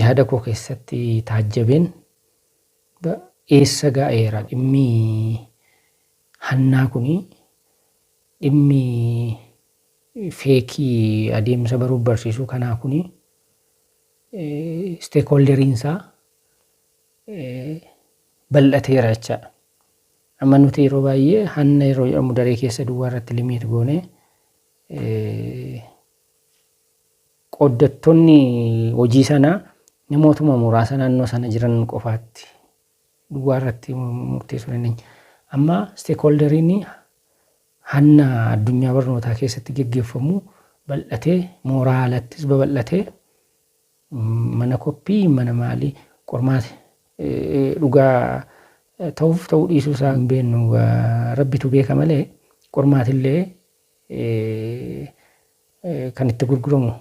Yaada koo keessatti taajjabeen eessa ga'eera dhimmi Hannaa kun dhimmi feekii adeemsa baruuf barsiisuu kanaa kun isteekoolderiin isaa bal'ateera jechaadha. Amma nuti yeroo baay'ee hanna yeroo jedhamu daree keessa duwwaa irratti limiit goone qooddattoonni hojii sanaa namootuma muraasa naannoo sana jiran qofaatti duwwaa irratti murteessuu dandeenya. Amma isteekholdariin hanna addunyaa barnootaa keessatti geggeeffamu bal'atee mooraa alattis babal'atee mana koppii mana maalii qormaati dhugaa ta'uuf ta'uu dhiisuu isaa hin beeknu rabbitu beeka malee qormaatillee kan itti gurguramu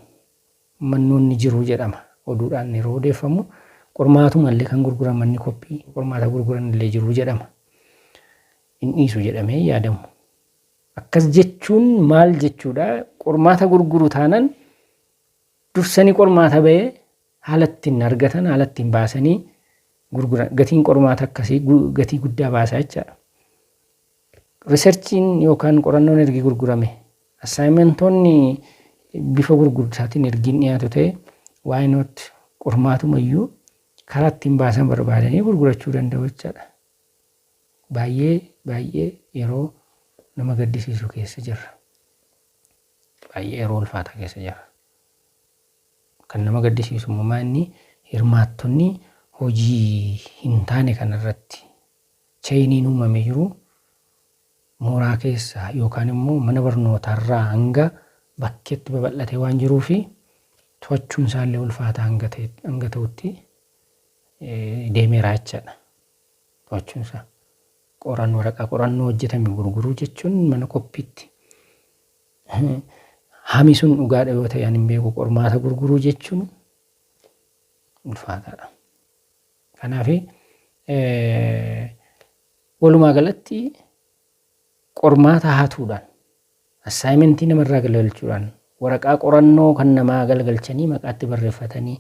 mannoon ni jiru jedhama oduudhaan yeroo odeeffamu qormaatuma illee kan gurguran manni koppii qormaata gurguran illee jiru jedhama hin dhiisu jedhamee hin yaadamu akkas jechuun maal jechuudha qormaata gurguru taanan dursanii qormaata ba'ee haala ittiin argatan haala ittiin baasanii gurguran gatiin qormaata akkasii gu- gatii guddaa baasa jechaadha Riserchiin yookaan qorannoon ergi gurgurame, assaayimentoonni bifa gurgurtaatiin ergi hin dhiyaatu ta'e, why not qormaatuma iyyuu karaa ittiin baasan barbaadanii gurgurachuu danda'u jecha dha. Baay'ee baay'ee yeroo nama gaddisiisu keessa jirra. Baay'ee yeroo ulfaataa keessa jirra. Kan nama gaddisiisu immoo maa inni hirmaattonni hojii hin taane kanarratti Cheeyiniin uumame jiru mooraa keessa yookaan immoo mana barnootaa irraa hanga bakkeetti babal'atee waan jiruufi to'achuun isaa illee ulfaataa hanga ta'e hanga ta'utti deemeera jechaadha. To'achuun isaa qoran waraqaa qorannoo hojjetame gurguruu jechuun mana qophiitti hami sun dhugaadha yoo ta'e ani hin beeku qormaata gurguruu jechuun ulfaataadha. Kanaaf walumaa galatti qormaata hatuudhaan assaayimentii namarraa galgalchuudhaan waraqaa qorannoo kan namaa galgalchanii maqaatti barreeffatanii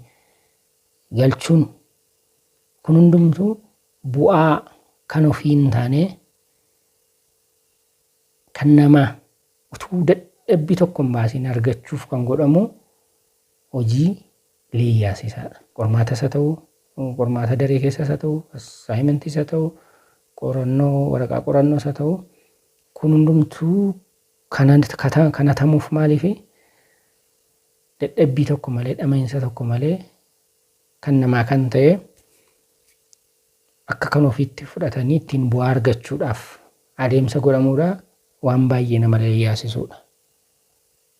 galchuun kun hundumtuu bu'aa kan ofii hin taane kan namaa utuu dadhabbii tokko hin baasiin argachuuf kan godhamu hojii Liiyaas isa qormaatas haa ta'u, qormaata daree keessas haa ta'u, assignmentiis haa ta'u, qorannoo waraqaa qorannoos haa ta'u, kun hundumtuu kana kata- kana tamuuf maaliifi dadhabbii tokko malee dhama'iinsa tokko malee kan namaa kan ta'e akka kan ofiitti fudhatanii ittiin bu'aa argachuudhaaf adeemsa godhamuudha waan baay'ee nama yaasisuudha.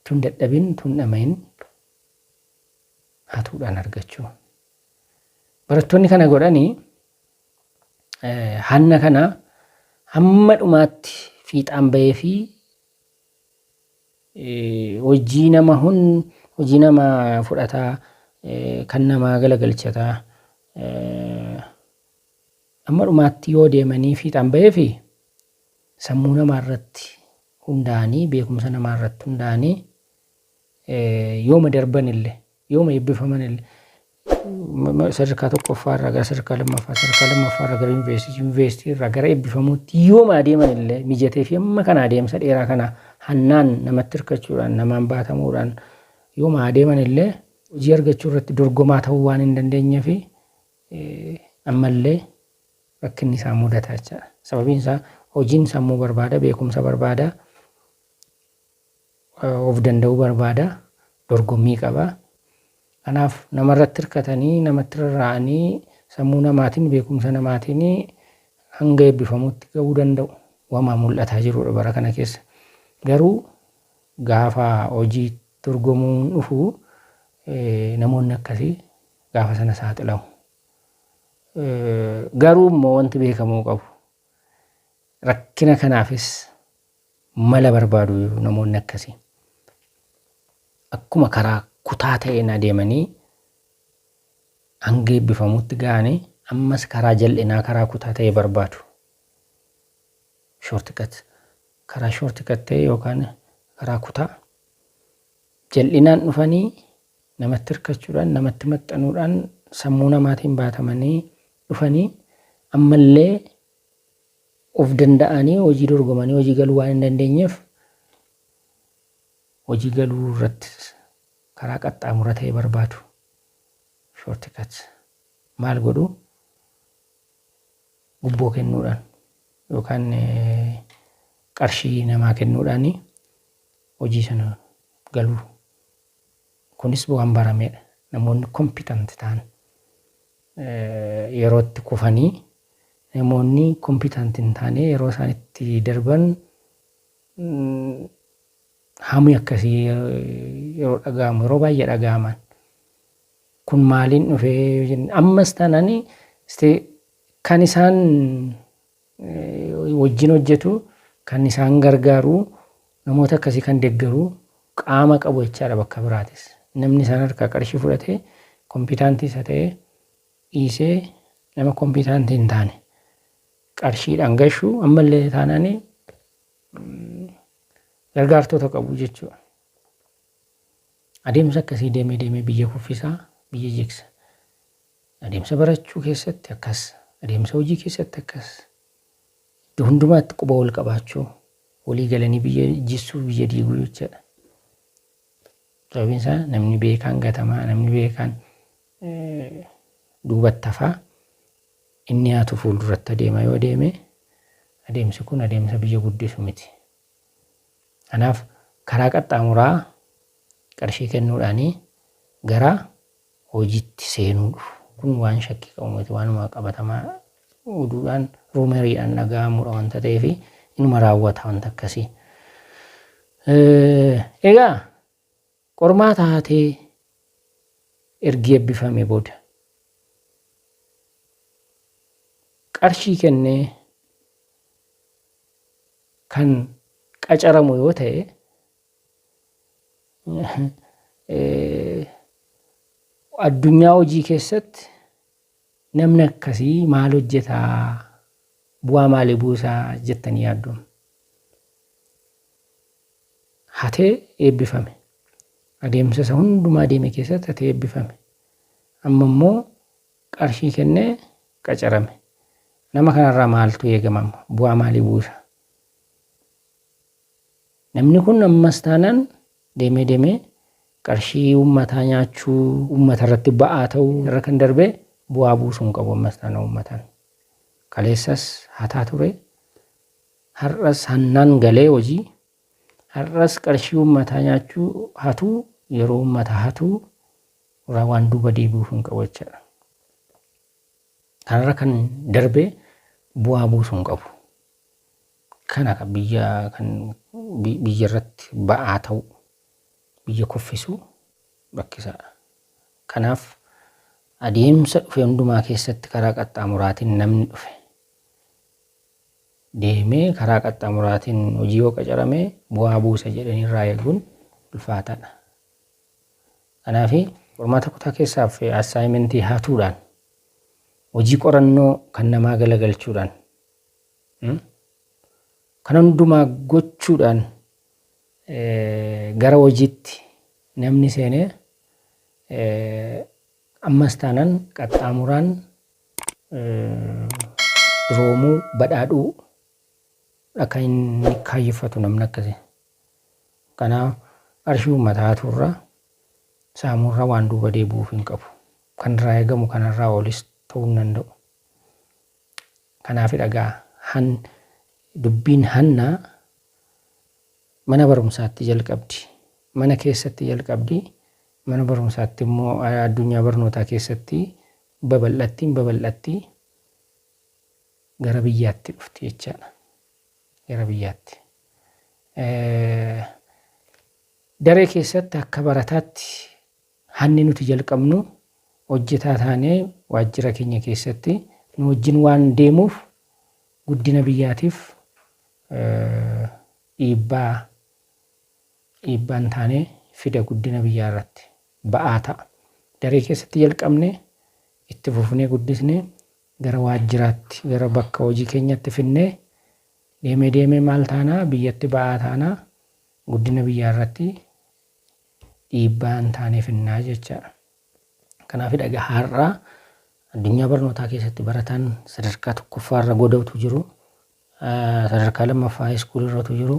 Tun dadhabin tun dhama'in hatuudhaan argachuu. Barattoonni kana godhanii hanna kana hamma dhumaatti fiixaan bahee fi hojii nama hun hojii nama fudhataa kan namaa galagalchataa amma dhumaatti yoo deemanii fiixaan bahee fi sammuu namaa irratti hundaa'anii beekumsa namaa irratti hundaa'anii yooma darbanille, yooma eebbifamanille sadarkaa tokkoffaa irraa gara sadarkaa lammaffaa, sadarkaa lammaffaa irraa gara yuunivarsiitii, yuunivarsiitii irraa gara eebbifamuutti yooma adeeman illee mijatee fi amma kana adeemsa dheeraa kana hannaan namatti hirkachuudhaan, namaan baatamuudhaan yooma adeeman illee hojii argachuu irratti dorgomaa ta'uu waan hin dandeenye fi ammallee rakkinni isaa mudataa jechaadha. Sababiin isaa hojiin sammuu barbaada, beekumsa barbaada. of danda'uu barbaada, dorgommii qaba. Kanaaf nama irratti hirkatanii, namatti rarra'anii, sammuu namaatiin, beekumsa namaatiin hanga eebbifamuutti ga'uu danda'u. Wama mul'ataa jirudha bara kana keessa. Garuu gaafa hojii dorgomuun dhufu namoonni akkasii gaafa sana saaxilamu. Garuu immoo wanti beekamuu qabu rakkina kanaafis Mala barbaadu namoonni akkasi. Akkuma karaa kutaa ta'een adeemanii hanga eebbifamuutti ga'anii ammas karaa jal'inaa karaa kutaa ta'e barbaadu. Shortcut. Karaa shortcut ta'e yookaan karaa kutaa jal'inaan dhufanii namatti hirkachuudhaan namatti maxxanuudhaan sammuu namaatiin baatamanii dhufanii ammallee Of danda'anii hojii dorgomanii hojii galuu waan hin dandeenyeef hojii galuu irratti karaa qaxxaamura ta'e barbaadu. Shortcut. Maal godhu? Gubboo kennuudhaan yookaan qarshii namaa kennuudhaan hojii sana galuu. Kunis waan barameedha. Namoonni kompitanti ta'an. yeroo itti kufanii namoonni kompiitant hin taane yeroo isaan itti darban hamii akkasii yeroo dhaga'amu yeroo baay'ee dhaga'aman kun maaliin dhufee yoo jenne ammas taanani kan isaan wajjin hojjetu, kan isaan gargaaru, namoota akkasii kan deggaru qaama qabu jechaadha bakka biraatis. Namni isaan harkaa qarshii fudhatee kompiitaantii isa ta'e dhiisee nama kompiitaantii hin taane qarshiidhaan gashu ammallee taanaan gargaartota qabu jechuudha. Adeemsa akkasii deemee deemee biyya kuffisaa biyya jigsa. Adeemsa barachuu keessatti akkas, adeemsa hojii keessatti akkas, iddo hundumaatti quba wal qabaachuu, walii galanii biyya jissuu, biyya diiguu jechaadha. Sababiin isaa namni beekaan gatamaa, namni beekaan duubatti hafaa, inni haatu fuulduratti adeema yoo adeeme, adeemsi kun adeemsa biyya guddisu miti. Kanaaf karaa qaxxaamuraa qarshii kennuudhaanii gara hojiitti seenuu dhufu. Kun waan shakkii qabu miti waanuma qabatamaa oduudhaan ruumeriidhaan dhaga'amuudha wanta ta'eef inuma raawwata wanta akkasii. Egaa qormaata haatee ergi ebbifame booda qarshii kennee kan qacaramu yoo ta'e Addunyaa hojii keessatti namni akkasii maal hojjetaa bu'aa maalii buusaa jettanii yaaddu. Hatee eebbifame. Adeemsa isa hundumaa deeme keessatti hatee eebbifame. Amma immoo qarshii kennee qacarame. Nama kanarraa maaltu eegamama? Bu'aa maalii buusa? Namni kun ammas taanaan deemee deemee qarshii uummataa nyaachuu, uummata irratti ba'aa ta'uu irra kan darbee bu'aa buusuu hin qabu ammas taanaan uummataan. Kaleessas hataa ture, har'as hannaan galee hojii, har'as qarshii uummataa nyaachuu, hatuu, yeroo uummata hatuu irraa waan duuba deebi'uuf hin qabu jechaadha. Kanarra kan darbee bu'aa buusuu hin qabu. Kana ka biyya kan biyya irratti ba'aa ta'u biyya kuffisu rakkisaadha. Kanaaf adeemsa dhufe hundumaa keessatti karaa qaxxaamuraatiin namni dhufe deemee karaa qaxxaamuraatiin hojii yoo qacarame bu'aa buusa jedhanii irraa eeguun ulfaataadha. Kanaaf qormaata kutaa keessaaf assaayimentii hatuudhaan hojii qorannoo kan namaa galagalchuudhaan Kana hundumaa gochuudhaan gara hojiitti namni seene ammas taanaan qaxxaamuraan duroomuu, badhaadhuu akka inni kaayyeffatu namni akkasi. Kanaaf qarshii uummataa hatuurra saamuurra waan duuba deebi'uuf hin qabu. Kan irraa eegamu kanarraa olis ta'uu hin danda'u. Kanaafidha gaa Han dubbiin Hannaa mana barumsaatti jalqabdi. Mana keessatti jalqabdi, mana barumsaatti immoo addunyaa barnootaa keessatti babal'atti hin babal'atti gara biyyaatti dhufti jechaadha. Gara biyyaatti. Daree keessatti akka barataatti Hanni nuti jalqabnu hojjetaa taanee waajjira keenya keessatti nu wajjin waan deemuuf guddina biyyaatiif dhiibbaa dhiibbaa hin taane fida guddina biyyaa irratti ba'aa ta'a. Daree keessatti jalqabne itti fufnee guddisne gara waajjiraatti gara bakka hojii keenyatti finnee deemee deemee maal taanaa biyyatti ba'aa taanaa guddina biyyaa irratti dhiibbaa hin taane finnaa jecha. Kanaafidha egaa har'a addunyaa barnootaa keessatti barataan sadarkaa tokkoffaa irra godautu jiru. Sadarkaa lammaffaa haayiskuulii irratu jiru.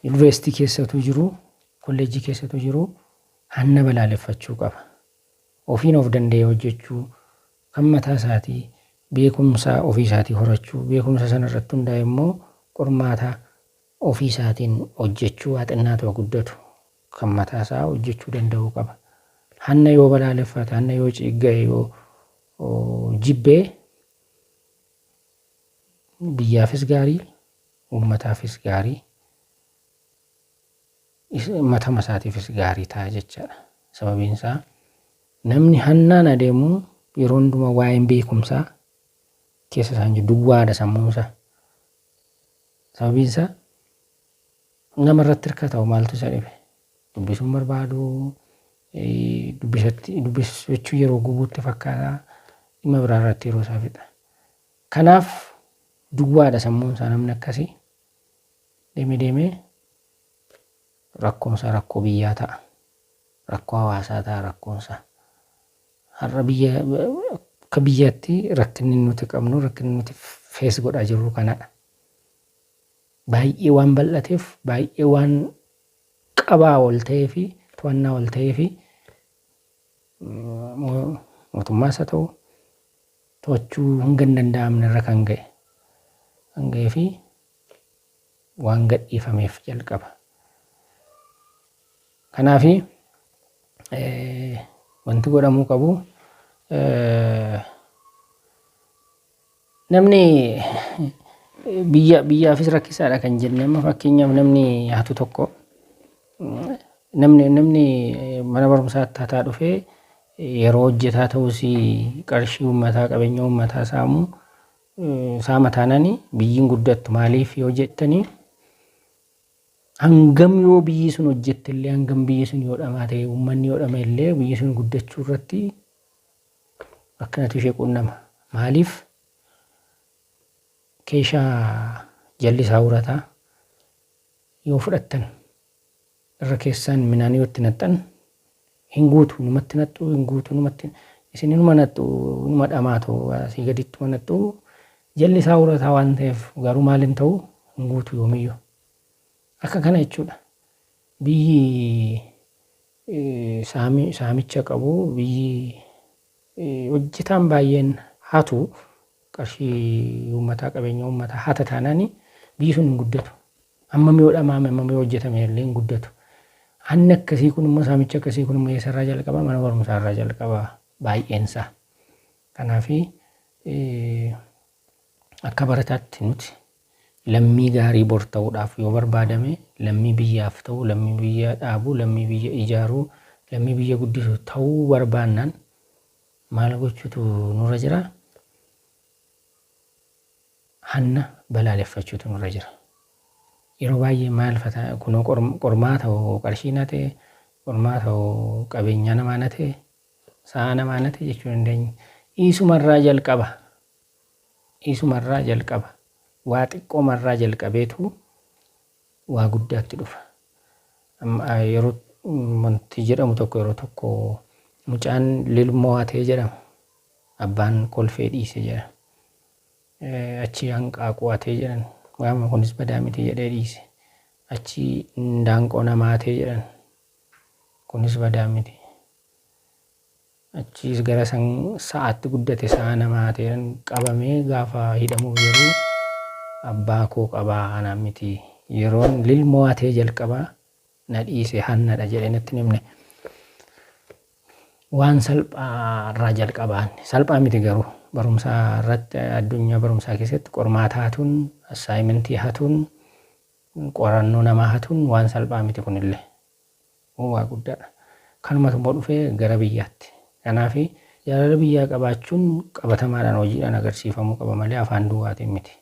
Yuunivarsiitii keessatu jiru. Kolleejjii keessatu jiru. Hanna balaaleffachuu qaba. Ofiin of danda'ee hojjechuu kan mataa isaatii beekumsa ofii isaatii horachuu beekumsa sana irratti hundaa'e immoo qormaata Ofii isaatiin hojjechuu haa xinnaatu haa guddatu, kan mataa isaa hojjechuu danda'uu qaba. Hanna yoo balaaleffate, hanna yoo ciigga'e, yoo jibbe biyyaafis gaarii, uummataafis gaarii, matama isaatiifis gaarii ta'a jechaadha. Sababiin isaa namni hannaan adeemu yeroo hundumaa waa'een beekumsaa keessa isaa hin jiru, duwwaadha sammuun isaa. Sababiin isaa nama irratti hirkata hoo maaltu isa dhibe? Dubbisuu hin barbaadu, dubbisatti dubbisachuu yeroo gubuutti fakkaata, dhimma biraa irratti yeroo isaa fixa. Kanaaf duwwaadha sammuun isaa namni akkasii deemee deemee rakkoon isaa rakkoo biyyaa ta'a, rakkoo hawaasaa ta'a rakkoon isaa. Har'a biyya akka biyyaatti rakkinni nuti qabnu rakkinni nuti fees godhaa jirru kanadha. Baay'ee waan bal'ateef baay'ee waan qabaa ol ta'ee fi to'annaa ol ta'ee fi mootummaas haa ta'u to'achuu hanga hin danda'amne irra kan ga'e kan ga'ee fi waan gadhiifameef jalqaba. Kanaaf wanti godhamuu qabu namni biyya biyyaafis rakkisaadha kan jenne amma fakkeenyaaf namni hatu tokko namni namni mana barumsaatti hataa dhufee yeroo hojjetaa ta'us qarshii uummataa qabeenya uummataa saamu saama taanani biyyiin guddattu maaliif yoo jettanii Hangam yoo biyyi sun hojjette illee, hangam biyyi sun yoo dhamaate, uummanni yoo dhama'e illee biyyi sun guddachuu irratti rakkinatu ishee quunnama. Maaliif keeshaa jallisaa urataa yoo fudhattan irra keessaan minaan yoo itti naxxan Hin guutu numatti naxxu hin guutu numatti isin inuma naxxu inuma dhamaatu asii gadittuma naxxu jalli isaa urataa waan ta'eef garuu maal hin ta'u hin guutu yoomiyyuu akka kana jechuudha biyyi saami saamicha qabu biyyi hojjetaan baay'een hatu qarshii uummataa qabeenya uummataa hata taanaani biyyi sun hin guddatu. Hammam yoo dhamaame, hammam yoo hojjetame illee hin guddatu. Hanni akkasii kun immoo, saamichi akkasii kun immoo eessa irraa jalqaba? Mana barumsaa irraa jalqaba baay'een isaa. Kanaaf akka barataatti nuti lammii gaarii bor ta'uudhaaf yoo barbaadame lammii biyyaaf ta'u, lammii biyya dhaabu, lammii biyya ijaaru, lammii biyya guddisu ta'uu barbaannaan maal gochuutu nurra jira? Hanna balaaleffachuutu nurra jira. Yeroo baay'ee maal fa ta'a kunoo qormaata hoo qarshii na ta'e, qormaata hoo qabeenyaa namaa na ta'e, sa'aa namaa na ta'e jechuu dandeenya. Isumarraa jalqaba. Isumarraa jalqaba. Waa xiqqoomarraa jalqabeetu waa guddaatti dhufa. Yeroo wanti jedhamu tokko yeroo tokko mucaan lilmoo hatee jedhama. Abbaan kolfee dhiise jedhama. Achii hanqaaquu hatee jedhan. Waanuma kunis badaa miti jedhee dhiise. Achii indaanqoo namaa hatee jedhan. Kunis badaa miti. Achiis gara san sa'aatti guddate sa'a namaa hatee jedhan. Qabamee gaafa hidhamuuf jedhu abbaa koo qabaa anaan miti. Yeroon lilmoo hatee jalqabaa na dhiise hannadha jedhee natti hin himne. Waan salphaa irraa jalqabaan salphaa miti garuu barumsaa irratti addunyaa barumsaa keessatti qormaata hatuun assaayimentii hatuun qorannoo namaa hatuun waan salphaa miti kunillee waa guddaadha. Kanumatu immoo dhufee gara biyyaatti. Kanaaf jaalala biyyaa qabaachuun qabatamaadhaan hojiidhaan agarsiifamuu qaba malee afaan duwwaatiin miti.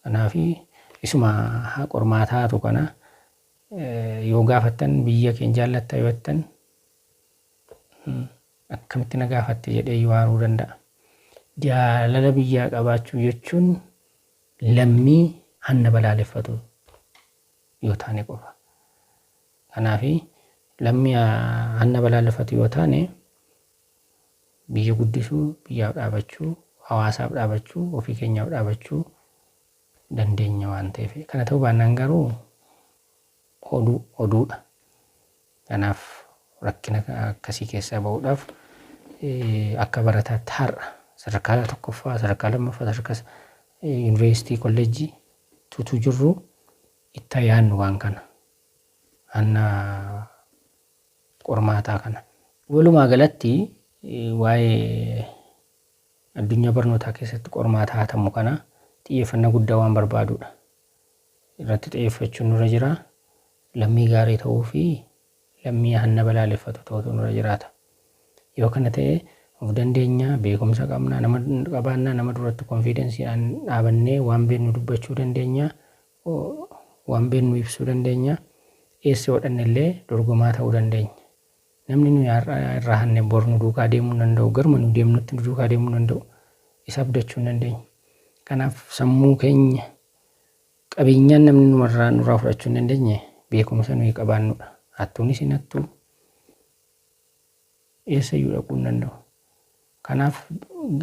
Kanaaf isuma qormaata hatu kana Yoo gaafattan biyya keen jaallatta yoo jettan akkamitti na gaafatte jedhee iyyuu aaruu danda'a. Jaalala biyyaa qabaachuu jechuun lammii hanna balaaleffatu yoo taane qofa. Kanaaf lammii hanna balaaleffatu yoo taane biyya guddisuu, biyyaaf dhaabachuu, hawaasaaf dhaabachuu, ofii keenyaaf dhaabachuu dandeenya waan ta'eef. Kana ta'uu baannaan garuu oduu oduudha. Kanaaf rakkina akkasii keessaa ba'uudhaaf akka barataatti har'a sadarkaa tokkoffaa, sadarkaa lammaffaa, sadarkaa yuunivarsiitii, kolleejjii tutuu jirru itti yaadnu waan kana. Hanna qormaataa kana. Walumaa galatti waa'ee Addunyaa barnootaa keessatti qormaata hatamu kana xiyyeeffannaa guddaa waan barbaaduudha. Irratti xiyyeeffachuun nurra jira. Lammii gaarii ta'uu fi lammii hanna balaaleffatu ta'utu nurra jiraata. Yoo kana ta'e of dandeenya, beekumsa qabna, nama qabaanna, nama duratti konfiidensiidhaan dhaabannee waan beeknu dubbachuu dandeenya, waan beeknu ibsuu dandeenya, eessa hodhanne illee dorgomaa ta'uu dandeenya. Namni nuyi har'a irraa hanne bor nu duukaa deemuu hin danda'u. Garuma nu deemnutti nu duukaa deemuu hin danda'u. Isa abdachuu hin dandeenyu. Kanaaf sammuu keenya qabeenyaan namni numarraa nurraa fudhachuu hin dandeenye beekumsa nuyi qabaannudha. Hattuunis hin hattuu eessayyuu dhaquu hin danda'u. Kanaaf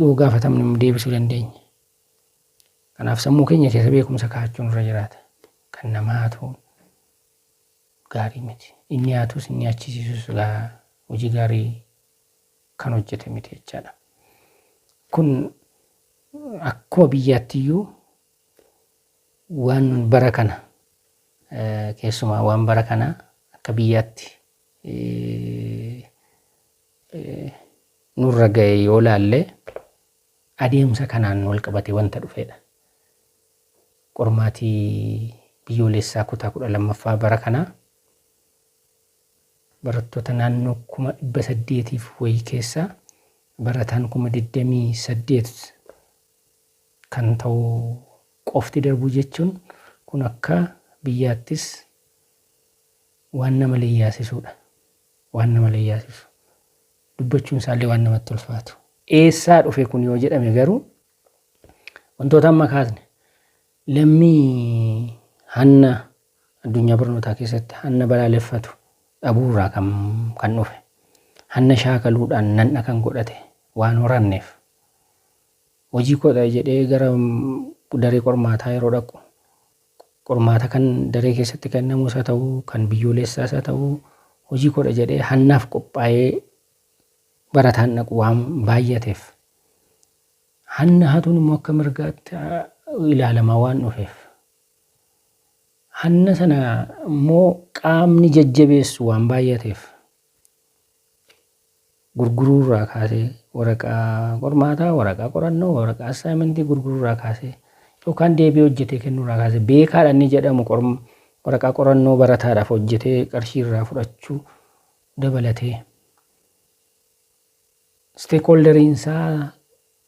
yoo gaafatamne immoo deebisuu dandeenya. Kanaaf sammuu keenya keessa beekumsa kaa'achuun irra jiraata. Kan namaa hatuun gaarii miti. Hin nyaatus hin nyaachisiisus silaa hojii gaarii kan hojjete miti jechaadha. Kun akkuma biyyaatti iyyuu waan bara kana eh, keessumaa waan bara kanaa akka biyyaatti eh, eh, nurra ga'e yoo laalle adeemsa kanaan wal qabate wanta dhufedha. Qormaati Biyyooleessaa kutaa 12ffaa bara kanaa barattoota naannoo 800,000f wayi keessaa barataan 28,000 kan ta'u qofti darbuu jechuun kun akka biyyaattis waan nama leyyaasisuudha. Waan nama leyyaasisu. Dubbachuun isaallee waan namatti ulfaatu. Eessaa dhufe kun yoo jedhame garuu Wantoota amma kaasne lammii hanna addunyaa barnootaa keessatti hanna balaaleffatu dhabuurraa kan, kan dhufe hanna shaakaluudhaan nan'a kan godhate waan horanneef hojii koo ta'e jedhee gara daree qormaataa yeroo dhaqu qormaata kan daree keessatti kennamus haa ta'u kan biyyoolessaas haa ta'u hojii koodha jedhee hannaaf qophaa'ee barataan dhaqu waan baay'ateef Hanna hatuun immoo akka mirgaatti ilaalamaa waan dhufeef. Hanna sana immoo qaamni jajjabeessu waan baay'ateef. Gurguruu irraa kaasee waraqaa qormaataa, waraqaa qorannoo, waraqaa assaayimentii gurguruu irraa kaasee yookaan deebii hojjetee kennuu irraa kaasee beekaadha inni jedhamu waraqaa qorannoo barataadhaaf hojjetee qarshii irraa fudhachuu dabalatee. Isteekooldariin isaa,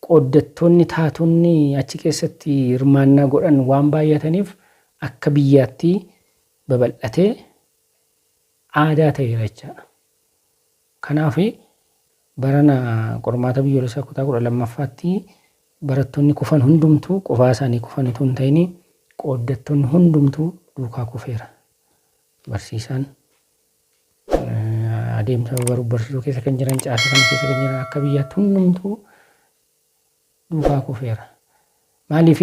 qooddattoonni, taatonni achi keessatti hirmaannaa godhan waan baay'ataniif akka biyyaatti babal'atee aadaa ta'eera jechaadha. Kanaaf barana qormaata biyyoolessaa kutaa kudha lammaffaatti barattoonni kufan hundumtuu qofaa isaanii kufan utuu hin ta'in qooddattoonni hundumtuu duukaa kufeera. Barsiisaan adeemsa baruuf barsiisuu keessa kan jiran caasaa sana keessa kan jiran akka biyyaatti hundumtuu duukaa kufeera. Maaliif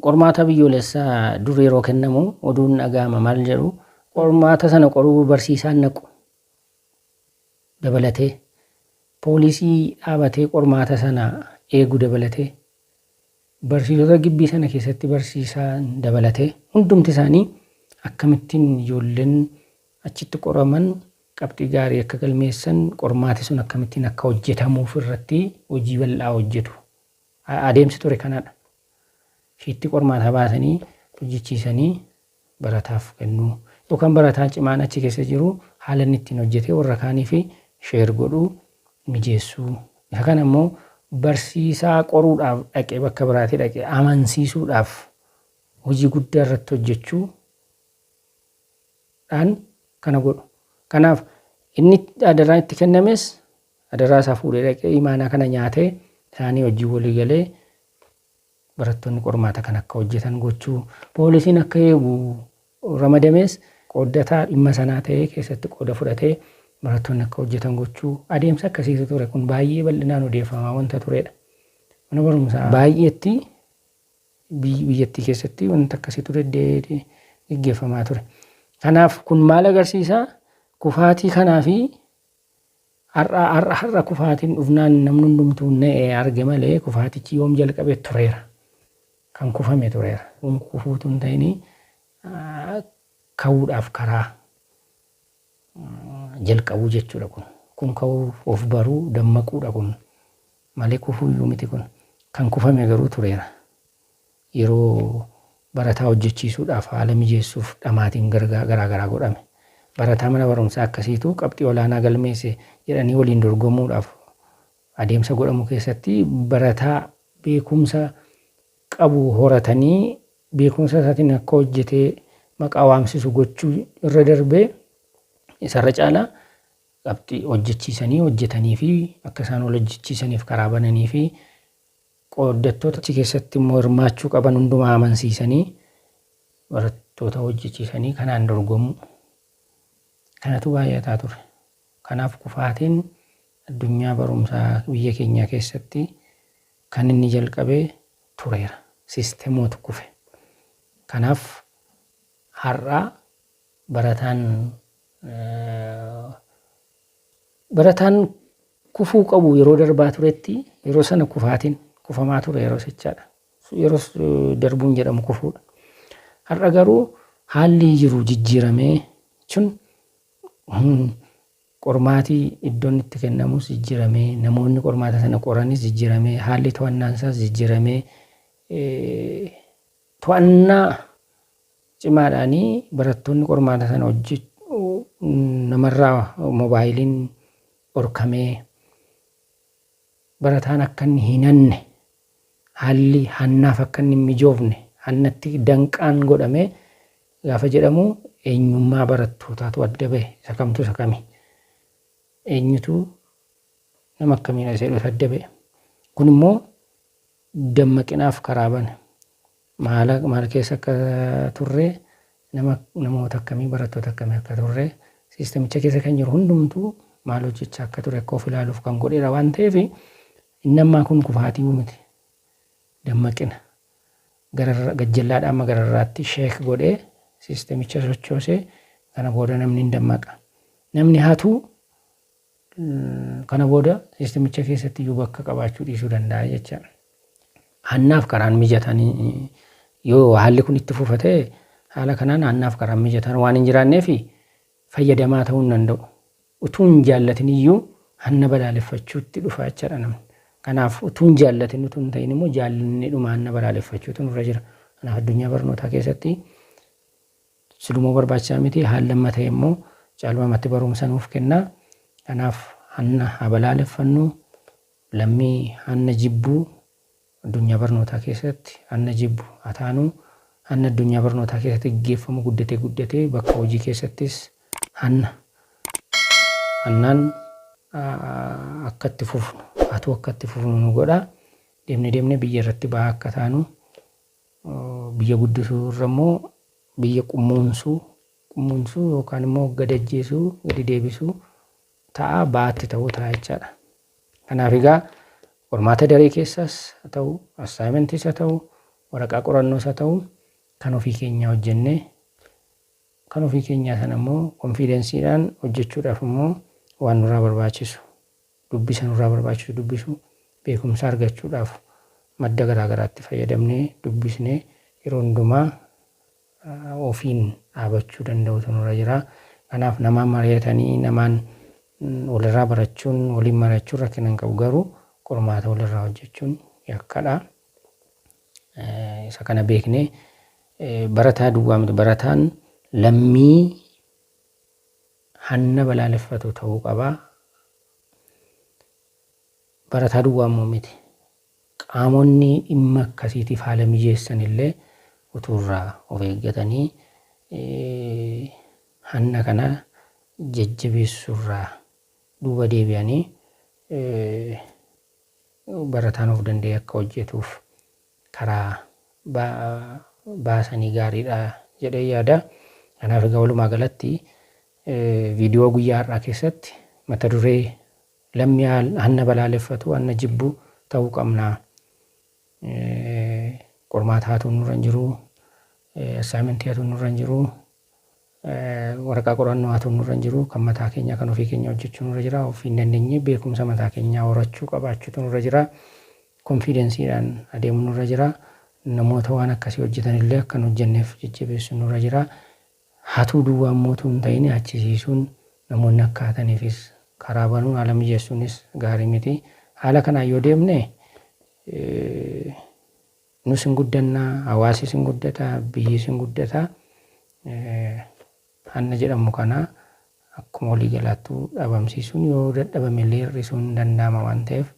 qormaata biyyoolessaa dur yeroo kennamu oduun dhaga'ama maal jedhu qormaata sana qoruu barsiisaan naqu dabalatee poolisii dhaabatee qormaata sana eegu dabalatee Barsiisota gibbii sana keessatti barsiisaan dabalatee hundumti isaanii akkamittiin ijoolleen achitti qoraman qabxii gaarii akka galmeessan, qormaati sun akkamittiin akka hojjetamuuf irratti hojii bal'aa hojjetu. Adeemsi ture kanadha. Shiittii qormaataa baasanii hojjechiisanii barataaf kennu yookaan barataa cimaan achi keessa jiru haala inni ittiin hojjetee warra kaaniif share godhu mijeessu. Isa kana immoo barsiisaa qoruudhaaf dhaqe bakka biraatii dhaqe amansiisuudhaaf hojii guddaa irratti hojjechuu dhaan kana godhu. Kanaaf inni adaraan itti kennames adaraa isaa fuudhee dhaqee imaanaa kana nyaatee isaanii wajjin walii galee Barattoonni qormaata kana akka hojjetan gochuu, poolisiin akka eegu ramadames qooddataa dhimma sanaa ta'ee keessatti qooda fudhatee barattoonni akka hojjetan gochuu adeemsa akkasiitu ture. Kun baay'ee bal'inaan odeeffamaa wanta tureedha. Mana barumsaa baay'eetti biyyattii keessatti wanta akkasiitu deddeebi'ee geggeeffamaa ture. Kanaaf kun maal agarsiisa? Kufaatii kanaa fi Har'a har'a har'a kufaatiin dhufnaan namni hundumtuu na'e arge malee kufaatichi yoom jalqabe tureera. Kan kufame tureera. Kun kufuutu hin ta'in ka'uudhaaf karaa jalqabuu jechuudha kun. Kun ka'uu of baruu dammaquudha kun. Malee kufuuyyuu miti kun. Kan kufame garuu tureera. Yeroo barataa hojjechiisuudhaaf haala mijeessuuf dhamaatiin garaagaraa godhame. Barataa mana barumsaa akkasiitu qabxii olaanaa galmeesse jedhanii waliin dorgomuudhaaf adeemsa godhamu keessatti barataa beekumsa qabu horatanii beekumsa isaatiin akka hojjetee maqaa waamsisu gochuu irra darbee isarra caalaa qabxii hojjechiisanii hojjetaniifi akka isaan wal hojjechiisaniif karaa bananiifi Qooddattoota achi keessatti immoo hirmaachuu qaban hundumaa amansiisanii barattoota hojjechiisanii kanaan dorgomuu. Kanatu baay'ataa ture. Kanaaf kufaatiin addunyaa barumsaa biyya keenyaa keessatti kan inni jalqabe tureera. Siistemootu kufe. Kanaaf har'a barataan Barataan kufuu qabu yeroo darbaa turetti yeroo sana kufaatiin kufamaa ture yeroo sichaadha. Yeroo darbuun jedhamu kufuudha. Har'a garuu haalli jiru jijjiiramee jechuun qormaatii iddoon itti kennamus jijjiiramee namoonni qormaata sana qoranis jijjiiramee haalli to'annaan isaas jijjiiramee To'annaa cimaadhaan barattoonni qormaata sana hojjechuu namarraa mobaayiliin dhorkamee barataan akka inni hin hanne haalli hannaaf akka inni hin mijoofne hannatti danqaan godhame gaafa jedhamu eenyummaa barattootaatu adda bahe isa kamtu isa kami eenyutu nama akkamiidha isa jedhu adda bahe kun immoo dammaqinaaf karaa bane. Maala maal keessa akka turre, nama namoota akkamii, barattoota akkamii akka turre, siistamicha keessa kan jiru hundumtuu maal hojjechaa akka ture akka of ilaaluuf kan godheera waan ta'eef inni ammaa kun kufaatii miti. Dammaqina. Gararra gajjallaadhaa amma gararraatti sheek godhee siistamicha sochoosee kana booda namni hin dammaqa. Namni hatu kana booda siistimicha keessatti iyyuu bakka qabaachuu dhiisuu danda'a jecha. Hannaaf karaan mijataan yoo haalli kun itti fufa ta'e haala kanaan hannaaf karaan mijataan waan hin jiraanneef fayyadamaa ta'uu hin danda'u. Utuu hin jaallatin iyyuu hanna balaaleffachuutti dhufa jechaadha namni. Kanaaf utuu hin jaallatin utuu hin ta'in immoo jaallanneedhuma hanna balaaleffachuutu nurra jira. Kanaaf addunyaa barnootaa keessatti Silumoo barbaachisaa miti haalli amma ta'e immoo caalmaamatti baruumsa nuuf kenna. Kanaaf hanna haa balaaleffannu, lammii hanna jibbu addunyaa barnootaa keessatti hanna jibbu haa taanu, hanna addunyaa barnootaa keessatti gaggeeffamu guddatee guddatee bakka hojii keessattis hanna hannaan akka itti fufnu hatuu akka itti fufnu nu godha. Deemne deemne biyya irratti ba'aa akka taanu Biyya guddisuu irra immoo biyya qummuunsuu, qummuunsuu yookaan immoo gad ajjeesuu, gadi deebisuu ta'a, ba'aatti ta'uu ta'a jechaadha. Kanaaf egaa qormaata daree keessaas haa ta'u, assaayimentis haa ta'u, waraqaa qorannoos haa ta'u kan ofii keenyaa hojjennee kan ofii keenyaa sana immoo konfiidensiidhaan hojjechuudhaaf immoo waan nurraa barbaachisu dubbisa nurraa barbaachisu dubbisuu, beekumsa argachuudhaaf madda garaa garaatti fayyadamnee dubbisnee yeroo hundumaa ofiin dhaabachuu danda'uutu nurra jira. Kanaaf namaan mari'atanii namaan walirraa barachuun, waliin mari'achuun rakkina hin qabu garuu qormaata walirraa hojjechuun yakkadha. Isa kana beeknee barataa duwwaa miti barataan lammii hanna balaaleffatu ta'uu qaba. Barataa duwwaa immoo miti. Qaamonni dhimma akkasiitiif haala mijeessan illee utuu irraa of eeggatanii hanna kana jajjabeessuu irraa duuba deebi'anii barataan of danda'ee akka hojjetuuf karaa baasanii gaariidha jedheen yaada. Kanaaf egaa walumaa galatti viidiyoo guyyaa har'aa keessatti mata duree lammii hanna balaaleffatu hanna jibbu ta'uu qabna qormaata hatuun nurra hin jiru assaayimentii hatuun nurra hin jiru Waraqaa qorannoo hatuun nurra hin jiru. Kan mataa keenyaa kan ofii keenyaa hojjechuu nurra jira. Ofii hin dandeenye beekumsa mataa keenyaa horachuu qabaachuutu nurra jira. Konfiidensiidhaan adeemuu nurra jira. Namoota waan akkasii hojjetan illee akka hin hojjenneef jajjabeessuun nurra jira. Hatuu duwwaa immoo utuu hin ta'in hachisiisuun namoonni akka hataniifis karaa banuun haala mijeessuunis gaarii miti. Haala kanaan yoo deemne Nus hin guddanna, hawaasis hin guddata, biyyis hin guddata. Hanna jedhamu kana akkuma walii galaattuu dhabamsiisuun yoo dadhabame illee hir'isuun hin danda'ama waan ta'eef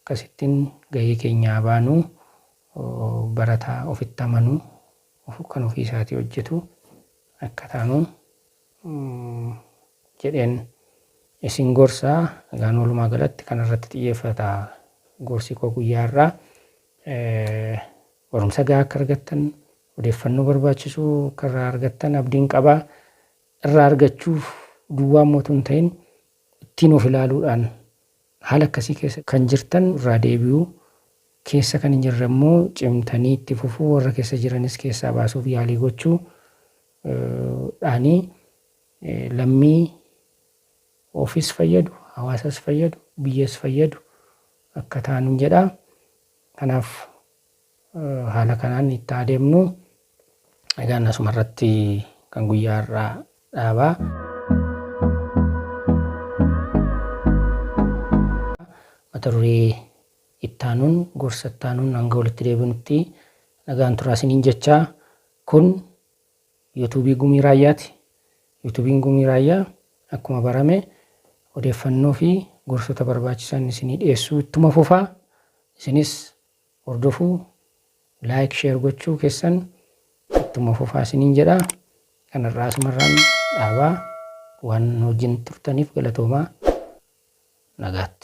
akkasittiin gahee keenya haa baanu. Barataa ofitti amanu, kan ofii isaatii hojjetu akka taanu jedheen isin gorsa. Egaan walumaa galatti kanarratti xiyyeeffata gorsi koo guyyaa har'aa. Barumsa gahaa akka argattan, odeeffannoo barbaachisu akka irraa argattan abdiin qaba. Irraa argachuuf duwwaa immoo utuu hin ta'in ittiin of ilaaluudhaan haala akkasii keessa kan jirtan irraa deebi'uu, keessa kan hin jirre immoo cimtanii itti fufuu, warra keessa jiranis keessaa baasuuf yaalii gochuu dhaani lammii ofis fayyadu, hawaasas fayyadu, biyyas fayyadu akka taanu jedha. Kanaaf haala kanaan itti haa deemnu. Egaan asuma irratti kan guyyaa har'aa dhaaba. Mata duree itti aanuun gorsa itti aanuun hanga walitti deebinutti nagaan turaa isiniin jechaa kun Yuutuubii Gumii Raayyaati. Yuutuubiin Gumii Raayyaa akkuma barame odeeffannoo fi gorsota barbaachisan isinii dhiyeessuu ittuma fufa. Isinis hordofuu, like, share gochuu keessan ittuma fufaa isiniin jedha. Kan har'aa asumarraan dhaabaa. Waan nu wajjin turtaniif galatoomaa. Nagaatti.